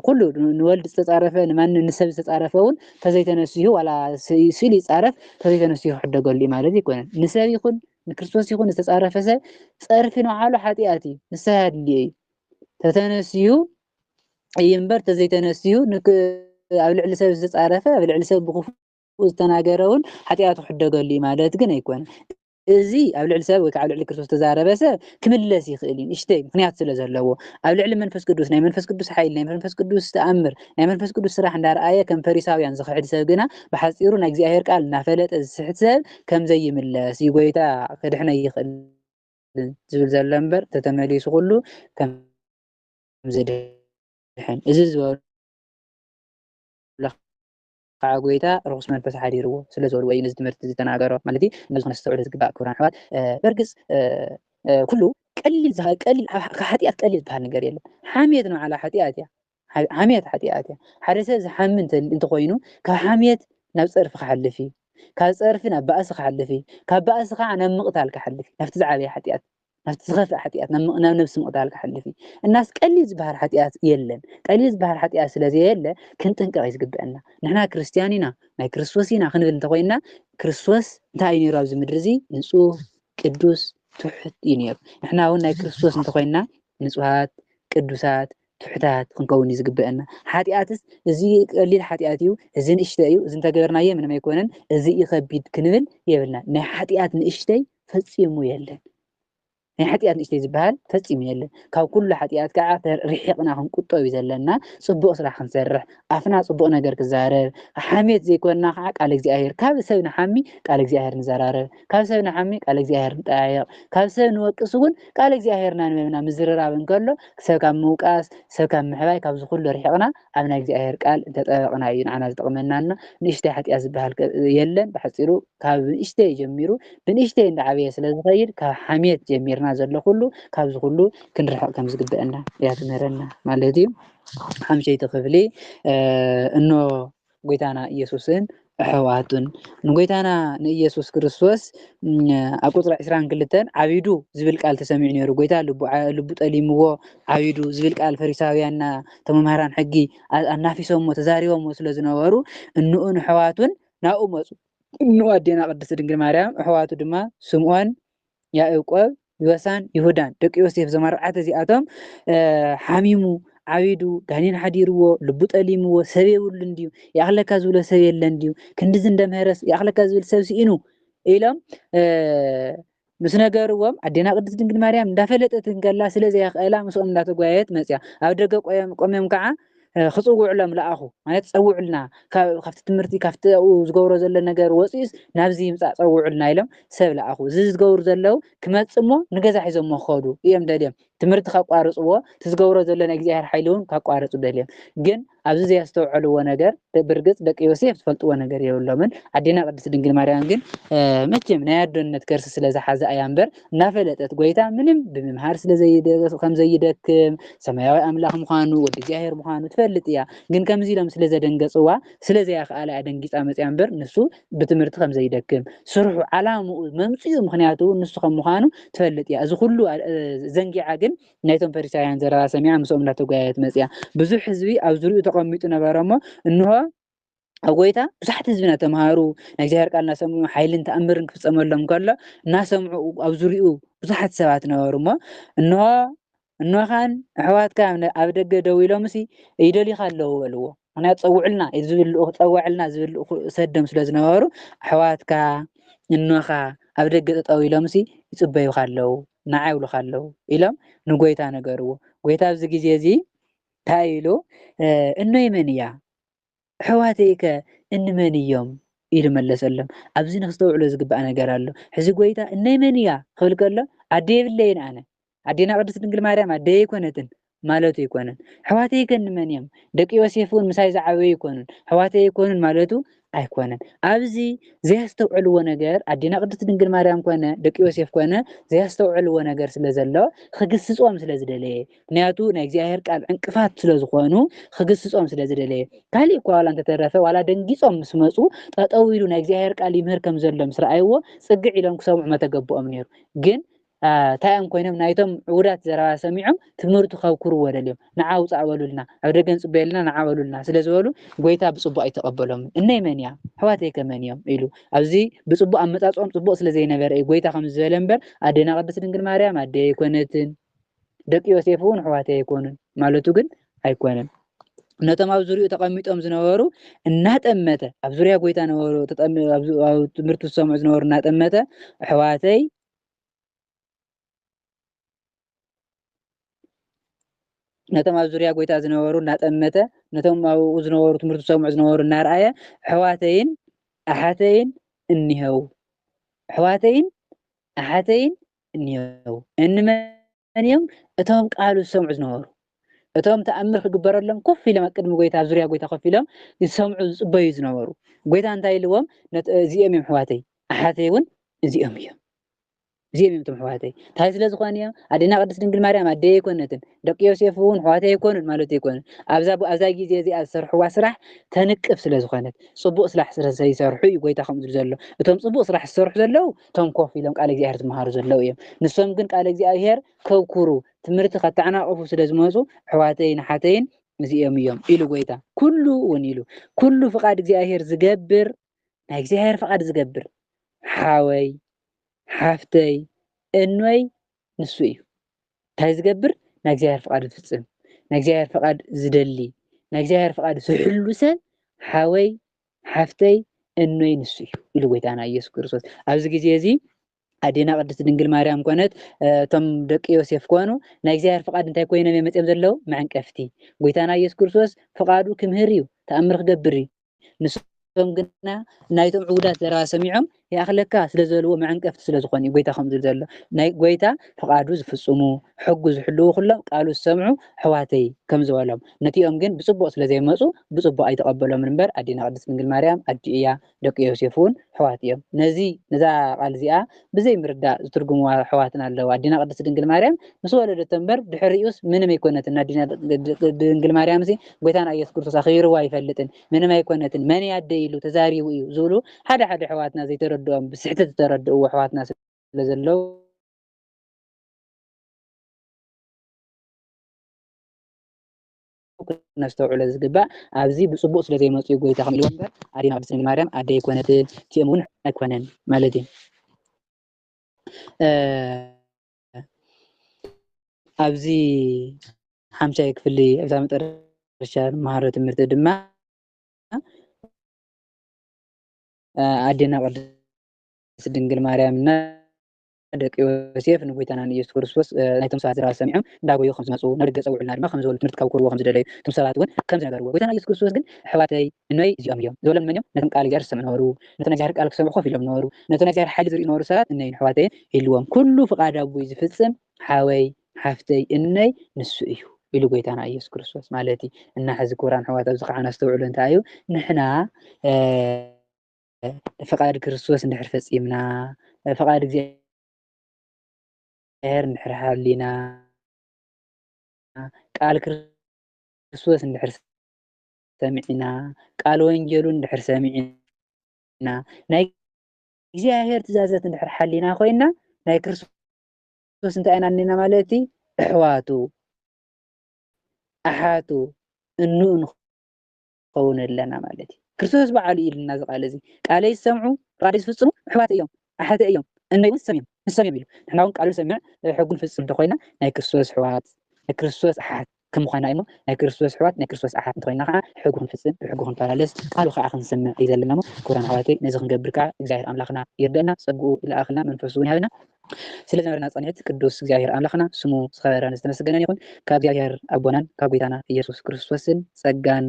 ኩሉ ንወልድ ዝተፃረፈ ንማን ንሰብ ዝተፃረፈ እውን ተዘይተነሲሁ ዋላ ስኢሉ ይፃረፍ ተዘይተነሲሁ ክሕደገሉ እዩ ማለት ኣይኮነን ንሰብ ይኹን ንክርስቶስ ይኹን ዝተፃረፈ ሰብ ፀርፊ ንባዕሉ ሓጢኣት እዩ ንስሐ ኣድልዮ እዩ ተተነሲሁ እዩ እምበር ተዘይተነሲሁ ኣብ ልዕሊ ሰብ ዝተፃረፈ ኣብ ልዕሊ ሰብ ብክፉእ ዝተናገረ እውን ሓጢኣቱ ክሕደገሉ እዩ ማለት ግን ኣይኮነን እዚ ኣብ ልዕሊ ሰብ ወይ ከዓ ኣብ ልዕሊ ክርስቶስ ዝተዛረበ ሰብ ክምለስ ይኽእል እዩ ንእሽተይ ምክንያት ስለ ዘለዎ ኣብ ልዕሊ መንፈስ ቅዱስ ናይ መንፈስ ቅዱስ ሓይሊ ናይ መንፈስ ቅዱስ ተኣምር ናይ መንፈስ ቅዱስ ስራሕ እንዳረኣየ ከም ፈሪሳውያን ዝኽሕድ ሰብ ግና ብሓፂሩ ናይ እግዚኣብሔር ቃል እናፈለጠ ዝስሕት ሰብ ከም ዘይምለስ እዩ ጎይታ ክድሕነ ይኽእል ዝብል ዘሎ እምበር ተተመሊሱ ኩሉ ከም ዝድሕን እዚ ዝበሉ ኸኣ ጐይታ ርኹስ መንፈስ ሓዲርዎ ስለ ዝበሉ ወይ ነዚ ትምህርቲ ዝተናገሮ ማለት እዩ ነዚ ከነስተውዕሎ ዝግባእ ክቡራን ኣሕዋት በርግጽ ኩሉ ቀሊል ቀሊል ካብ ሓጢኣት ቀሊል ዝበሃል ነገር የለን ሓምየት ንባዕላ ሓጢኣት እያ ሓምየት ሓጢኣት እያ ሓደ ሰብ ዝሓሚ እንተኾይኑ ካብ ሓምየት ናብ ጸርፊ ክሓልፍ እዩ ካብ ጸርፊ ናብ ባእሲ ክሓልፍ እዩ ካብ ባእሲ ከዓ ናብ ምቕታል ክሓልፍ እዩ ናብቲ ዝዓበየ ሓጢኣት ናብቲ ዝኸፍእ ሓጢኣት ናብ ነብሲ ምቕታል ክሓልፍ እዩ እናስ ቀሊል ዝበሃል ሓጢኣት የለን ቀሊል ዝበሃል ሓጢኣት ስለ ዘየለ ክንጥንቀቕ እዩ ዝግብአና ንሕና ክርስትያን ኢና ናይ ክርስቶስ ኢና ክንብል እንተኮይንና ክርስቶስ እንታይ እዩ ነይሩ ኣብዚ ምድሪ እዚ ንፁህ ቅዱስ ትሑት እዩ ነይሩ ንሕና እውን ናይ ክርስቶስ እንተኮይንና ንፁሃት ቅዱሳት ትሑታት ክንከውን እዩ ዝግበአና ሓጢኣትስ እዚ ቀሊል ሓጢኣት እዩ እዚ ንእሽተ እዩ እዚ እንተገበርናዮ ምንም ኣይኮነን እዚ እዩ ከቢድ ክንብል የብልና ናይ ሓጢኣት ንእሽተይ ፈጺሙ የለን። ናይ ሓጢኣት ንእሽተይ ዝበሃል ፈጺሙ የለን። ካብ ኩሉ ሓጢኣት ከዓ ርሒቕና ክንቁጠብ እዩ ዘለና። ጽቡቕ ስራሕ ክንሰርሕ፣ ኣፍና ጽቡቕ ነገር ክዛረብ፣ ሓሜት ዘይኮና ከዓ ቃል እግዚኣብሔር ካብ ሰብ ንሓሚ ቃል እግዚኣብሔር ንዘራረብ፣ ካብ ሰብ ንሓሚ ቃል እግዚኣብሔር ንጠያየቕ፣ ካብ ሰብ ንወቅስ እውን ቃል እግዚኣብሔር እናንበብና ምዝርራብ እንከሎ ሰብ ካብ ምውቃስ ሰብ ካብ ምሕባይ ካብዚ ኩሉ ርሒቕና ኣብ ናይ እግዚኣብሔር ቃል እንተጠበቕና እዩ ንዓና ዝጠቕመናና ንእሽተይ ሓጢኣት ዝበሃል የለን ብሓፂሩ ካብ ንእሽተይ ጀሚሩ ብንእሽተይ እንዳዓበየ ስለ ዝኸይድ ካብ ሓሜት ጀሚርና ዘሎ ኩሉ ካብዚ ኩሉ ክንርሕቕ ከም ዝግበአና እያ ትምህረና ማለት እዩ ሓምሸይቲ ክፍሊ እኖ ጎይታና ኢየሱስን ኣሕዋቱን ንጎይታና ንኢየሱስ ክርስቶስ ኣብ ቁፅሪ 22 ዓቢዱ ዝብል ቃል ተሰሚዑ ነይሩ ጎይታ ልቡ ጠሊምዎ ዓቢዱ ዝብል ቃል ፈሪሳውያንና ተመምሃራን ሕጊ ኣናፊሶሞ ተዛሪቦሞ ስለ ዝነበሩ እንኡን ኣሕዋቱን ናብኡ መጹ። እንሆ ኣዴና ቅድስት ድንግል ማርያም፣ ኣሕዋቱ ድማ ስምዖን፣ ያእቆብ፣ ዮሳን ይሁዳን፣ ደቂ ዮሴፍ፣ እዞም ኣርባዕተ እዚኣቶም፣ ሓሚሙ፣ ዓቢዱ፣ ጋኔን ሓዲርዎ፣ ልቡ ጠሊምዎ፣ ሰብ የብሉን ድዩ፣ ይኣኽለካ ዝብሎ ሰብ የለን ድዩ፣ ክንድዚ እንደ ምህረስ ይኣኽለካ ዝብል ሰብ ስኢኑ ኢሎም ምስ ነገርዎም ኣዴና ቅድስት ድንግል ማርያም እንዳፈለጠት እንከላ ስለ ዘይኣኽእላ ምስኦም እንዳተጓየየት መጽያ። ኣብ ደገ ቆምዮም ከኣ ክጽውዑሎም ለኣኹ ማለት ጸውዑልና ካብቲ ትምህርቲ ካብቲ ኣብኡ ዝገብሮ ዘሎ ነገር ወጺኡስ ናብዚ ይምጻእ ጸውዑልና ኢሎም ሰብ ለኣኹ። እዚ ዝገብሩ ዘለዉ ክመጽእ እሞ ንገዛ ሒዞሞ ክኸዱ ኢዮም ደልዮም ትምህርቲ ከቋርጽዎ እቲ ዝገብሮ ዘሎ ናይ እግዚኣብሔር ሓይሊ ውን ከቋርጹ ደልዮም ግን ኣብዚ ዘየስተውዐልዎ ነገር ብርግጽ ደቂ ዮሴፍ ዝፈልጥዎ ነገር የብሎምን ኣዴና ቅድስት ድንግል ማርያም ግን መቼም ናይ ኣዶነት ከርሲ ስለ ዝሓዘ ኣያ እምበር እናፈለጠት ጎይታ ምንም ብምምሃር ስለ ከም ዘይደክም ሰማያዊ ኣምላኽ ምዃኑ ወዲ እግዚኣብሔር ምዃኑ ትፈልጥ እያ ግን ከምዚ ኢሎም ስለ ዘደንገጽዋ ስለ ዘያክኣላ እያ ደንጊጻ መጽያ እምበር ንሱ ብትምህርቲ ከም ዘይደክም ስርሑ ዓላምኡ መምጽኡ ምክንያቱ ንሱ ከም ምዃኑ ትፈልጥ እያ እዚ ኩሉ ዘንጊዓ ግን ናይቶም ፈሪሳውያን ዘረባ ሰሚዓ ምስኦም እንዳተጓየየት መጺኣ ብዙሕ ህዝቢ ኣብ ዙርይኡ ተቐሚጡ ነበረ እሞ እንሆ ኣብ ጎይታ ብዙሓት ህዝቢ እናተምሃሩ ናይ እግዚኣብሔር ቃል እናሰምዑ ሓይልን ተኣምርን ክፍጸመሎም ከሎ እናሰምዑ ኣብ ዙርይኡ ብዙሓት ሰባት ነበሩ እሞ እንሆ እኖኻን ኣሕዋትካ ኣብ ደገ ደው ኢሎምሲ ይደልዩኻ ኣለዉ በልዎ ምክንያቱ ፀውዕልና ኢዩ ዝብል ልኡኽ ፀወዐልና ዝብል ልኡኽ ሰደም ስለ ዝነበሩ ኣሕዋትካ እኖኻ ኣብ ደገ ጠጠው ኢሎምሲ ይፅበዩኻ ኣለዉ ንዓይ ይብሉኻ ኣለዉ ኢሎም ንጎይታ ነገርዎ ጎይታ ኣብዚ ግዜ እዚ እንታይ ኢሉ እኖይ መን እያ ኣሕዋተይ ከ እንመን እዮም ኢሉ መለሰሎም ኣብዚ ንክስተውዕሎ ዝግባእ ነገር ኣሎ ሕዚ ጎይታ እነይ መን እያ ክብል ከሎ ኣደ የብለይን ኣነ ኣዴና ቅድስት ድንግል ማርያም ኣደይ ኣይኮነትን ማለቱ ኣይኮነን። ኣሕዋተይ ከኒ መን እዮም? ደቂ ዮሴፍ እውን ምሳይ ዝዓበዩ ኣይኮኑን፣ ኣሕዋተይ ኣይኮኑን ማለቱ ኣይኮነን። ኣብዚ ዘያስተውዕልዎ ነገር ኣዴና ቅድስት ድንግል ማርያም ኮነ ደቂ ዮሴፍ ኮነ ዘያስተውዕልዎ ነገር ስለ ዘሎ ክግስጾም ስለ ዝደለየ ምክንያቱ ናይ እግዚኣብሔር ቃል ዕንቅፋት ስለ ዝኾኑ ክግስጾም ስለ ዝደለየ ካሊእ እኳ ዋላ እንተተረፈ ዋላ ደንጊጾም ምስ መጹ ጠጠው ኢሉ ናይ እግዚኣብሔር ቃል ይምህር ከም ዘሎ ምስ ረኣይዎ ጽግዕ ኢሎም ክሰምዑ መተገብኦም ነይሩ ግን ታይ እዮም ኮይኖም ናይቶም ዕቡዳት ዘረባ ሰሚዖም ትምህርቱ ከብኩርዎ ደልዮም ንዓ ውጻእ በሉልና ኣብ ደገ ንጽበዮ ኣለና ንዓ በሉልና ስለ ዝበሉ ጎይታ ብጽቡቅ ኣይተቀበሎምን እነይ መን እያ ኣሕዋተይከ መን እዮም ኢሉ ኣብዚ ብጽቡቅ ኣመጻጽኦም ጽቡቅ ስለ ዘይነበረ እዩ ጎይታ ከምዚ ዝበለ እምበር ኣዴና ቅድስት ድንግል ማርያም ኣደይ ኣይኮነትን ደቂ ዮሴፍ እውን ኣሕዋተይ ኣይኮኑን ማለቱ ግን ኣይኮነን ነቶም ኣብ ዙሪኡ ተቐሚጦም ዝነበሩ እናጠመተ ኣብ ዙሪያ ጎይታ ነበሩ ትምህርቲ ዝሰምዑ ዝነበሩ እናጠመተ ኣሕዋተይ ነቶም ኣብ ዙርያ ጎይታ ዝነበሩ እናጠመተ ነቶም ኣብኡ ዝነበሩ ትምህርቲ ዝሰምዑ ዝነበሩ እናርኣየ ኣሕዋተይን ኣሓተይን እኒሀው ኣሕዋተይን ኣሓተይን እኒሀው እንመን መን እዮም እቶም ቃሉ ዝሰምዑ ዝነበሩ? እቶም ተኣምር ክግበረሎም ኮፍ ኢሎም ኣብ ቅድሚ ጎይታ ኣብ ዙርያ ጎይታ ኮፍ ኢሎም ዝሰምዑ ዝጽበዩ ዝነበሩ ጎይታ እንታይ ኢልዎም ነት እዚኦም እዮም ኣሕዋተይ ኣሓተይ እውን እዚኦም እዮም እዚኦም እዮም እቶም ኣሕዋተይ እንታይ ስለ ዝኾነ እዮም ኣዴና ቅድስት ድንግል ማርያም ኣደይ ኣይኮነትን ደቂ ዮሴፍ እውን ኣሕዋተይ ኣይኮኑን ማለት ኣይኮኑን ኣብዛ ኣብዛ ግዜ እዚኣ ዝሰርሕዋ ስራሕ ተንቅፍ ስለ ዝኾነት ጽቡቅ ስራሕ ስለ ዘይሰርሑ እዩ ጎይታ ከምኡ ዝብሉ ዘሎ እቶም ጽቡቅ ስራሕ ዝሰርሑ ዘለዉ እቶም ኮፍ ኢሎም ቃል እግዚኣብሔር ዝመሃሩ ዘለዉ እዮም ንሶም ግን ቃል እግዚኣብሔር ከብኩሩ ትምህርቲ ከተዓናቕፉ ስለ ዝመፁ ኣሕዋተይን ኣሓተይን እዚኦም እዮም ኢሉ ጎይታ ኩሉ እውን ኢሉ ኩሉ ፍቃድ እግዚኣብሔር ዝገብር ናይ እግዚኣብሔር ፍቃድ ዝገብር ሓወይ ሓፍተይ እኖይ ንሱ እዩ እንታይ ዝገብር ናይ እግዚኣብሔር ፍቃድ ዝፍፅም ናይ እግዚኣብሔር ፍቃድ ዝደሊ ናይ እግዚኣብሔር ፍቃድ ዝሕሉ ሰብ ሓወይ ሓፍተይ እኖይ ንሱ እዩ ኢሉ ጎይታና ኢየሱስ ክርስቶስ ኣብዚ ግዜ እዚ ኣዴና ቅድስት ድንግል ማርያም ኮነት እቶም ደቂ ዮሴፍ ኮኑ ናይ እግዚኣብሔር ፍቃድ እንታይ ኮይኖም እዮም መፅኦም ዘለዉ መዕንቀፍቲ ጎይታና ኢየሱስ ክርስቶስ ፍቃዱ ክምህር እዩ ተኣምር ክገብር እዩ ንሶም ግና ናይቶም ዕቡዳት ዘረባ ሰሚዖም ይኣኽለካ ስለ ዝበልዎ መዐንቀፍቲ ስለ ዝኾኑ እዩ ጎይታ ከምኡ ዝብል ዘሎ። ናይ ጎይታ ፍቓዱ ዝፍጽሙ፣ ሕጉ ዝሕልዉ ኩሎም ቃሉ ዝሰምዑ ኣሕዋተይ ከም ዝበሎም። ነቲኦም ግን ብጽቡቕ ስለ ዘይመጹ ብጽቡቕ ኣይተቐበሎምን እምበር ኣዴና ቅድስት ድንግል ማርያም ኣዲኡ እያ ደቂ ዮሴፍ እውን ኣሕዋት እዮም። ነዚ ነዛ ቃል እዚኣ ብዘይ ምርዳእ ዝትርጉምዋ ኣሕዋትና ኣለዉ። ኣዴና ቅድስት ድንግል ማርያም ምስ ወለደቶ እምበር ድሕሪኡስ ምንም ኣይኮነትን። ኣዴና ድንግል ማርያምሲ ጎይታና ኢየሱስ ክርስቶስ ኣኽቢርዎ ኣይፈልጥን። ምንም ኣይኮነትን መን እያ ኣደይ ኢሉ ተዛሪቡ እዩ ዝብሉ ሓደ ሓደ ኣሕዋትና ዘይተረድኦም ብስሕተት ዝተረድእዎ ኣሕዋትና ስለ ዘለው ክነስተውዕሎ ዝግባእ ኣብዚ ብፅቡቅ ስለ ዘይመፁ እዩ ጎይታ ከም ኢልዎ እምበር ኣዴና ቅድስት ድንግል ማርያም ኣደ ይኮነት እቲኦም እውን ኣይኮነን ማለት እዩ ኣብዚ ሓምሻይ ክፍሊ እዛ መጠረሻ መሃሮ ትምህርቲ ድማ ኣዴና ቅድስት ድንግል ማርያም እና ደቂ ዮሴፍ ንጎይታናን ኢየሱስ ክርስቶስ ናይቶም ሰባት ዝረባ ሰሚዖም እንዳጎዩ ከም ዝመፁ ናብ ደገ ፀውዑልና ድማ ከም ዝበሉ ትምህርቲ ካብ ክህብዎ ከም ዝደለዩ እቶም ሰባት እውን ከም ዝነገርዎ ጎይታና ኢየሱስ ክርስቶስ ግን ኣሕዋተይ እኖይ እዚኦም እዮም ዝበሎም መን እዮም ነቶም ቃል እግዚኣብሔር ዝሰምዑ ነበሩ ነቲ ናይ እግዚኣብሔር ቃል ክሰምዑ ኮፍ ኢሎም ነበሩ። ነቲ ናይ እግዚኣብሔር ሓይሊ ዝርእዩ ዝነበሩ ሰባት እነይን ኣሕዋተይን ኢልዎም። ኩሉ ፍቃድ ኣቦይ ዝፍጽም ሓወይ ሓፍተይ እነይ ንሱ እዩ ኢሉ ጎይታና ኢየሱስ ክርስቶስ ማለት እዩ እና ሕዚ ክቡራን ኣሕዋት ኣብዚ ከዓ ነስተውዕሉ እንታይ እዩ ንሕና ፍቃድ ክርስቶስ እንድሕር ፈጺምና ፍቃድ እግዚኣብሔር እግዚኣብሔር እንድሕር ሃሊና ቃል ክርስቶስ እንድሕር ሰሚዕና ቃል ወንጌሉ እንድሕር ሰሚዕና ናይ እግዚኣብሔር ትእዛዘት እንድሕር ሓሊና ኮይና ናይ ክርስቶስ እንታይ ኢና እኒና ማለት እዩ እሕዋቱ ኣሓቱ እኑ እንኸውን ኣለና ማለት እዩ ክርስቶስ በዓሉ ኢልና እዚ ቃል እዚ ቃለይ ዝሰምዑ ቃለይ ዝፍፅሙ ኣሕዋት እዮም ኣሓተ እዮም እነይ ንሶም እዮም ንሶም እዮም ኢሉ ንሕና እውን ቃሉ ሰሚዕ ሕጉን ፍፅም እንተኮይና ናይ ክርስቶስ ኣሕዋት ናይ ክርስቶስ ኣሓት ከም ምዃንና እሞ ናይ ክርስቶስ ኣሕዋት ናይ ክርስቶስ ኣሓት እንተኾይንና ከኣ ሕጉ ክንፍጽም ብሕጉ ክንመላለስ ቃሉ ከኣ ክንሰምዕ እዩ ዘለና እሞ ክቡራን ኣሕዋተይ ነዚ ክንገብር ከኣ እግዚኣብሔር ኣምላኽና ይርደእና ጸግኡ ይልኣኽልና መንፈሱ ውን ይሃበና ስለ ዝነበረና ጻንሒት ቅዱስ እግዚኣብሔር ኣምላኽና ስሙ ዝኸበረን ዝተመሰገነን ይኹን ካብ እግዚኣብሔር ኣቦናን ካብ ጎይታና ኢየሱስ ክርስቶስን ጸጋን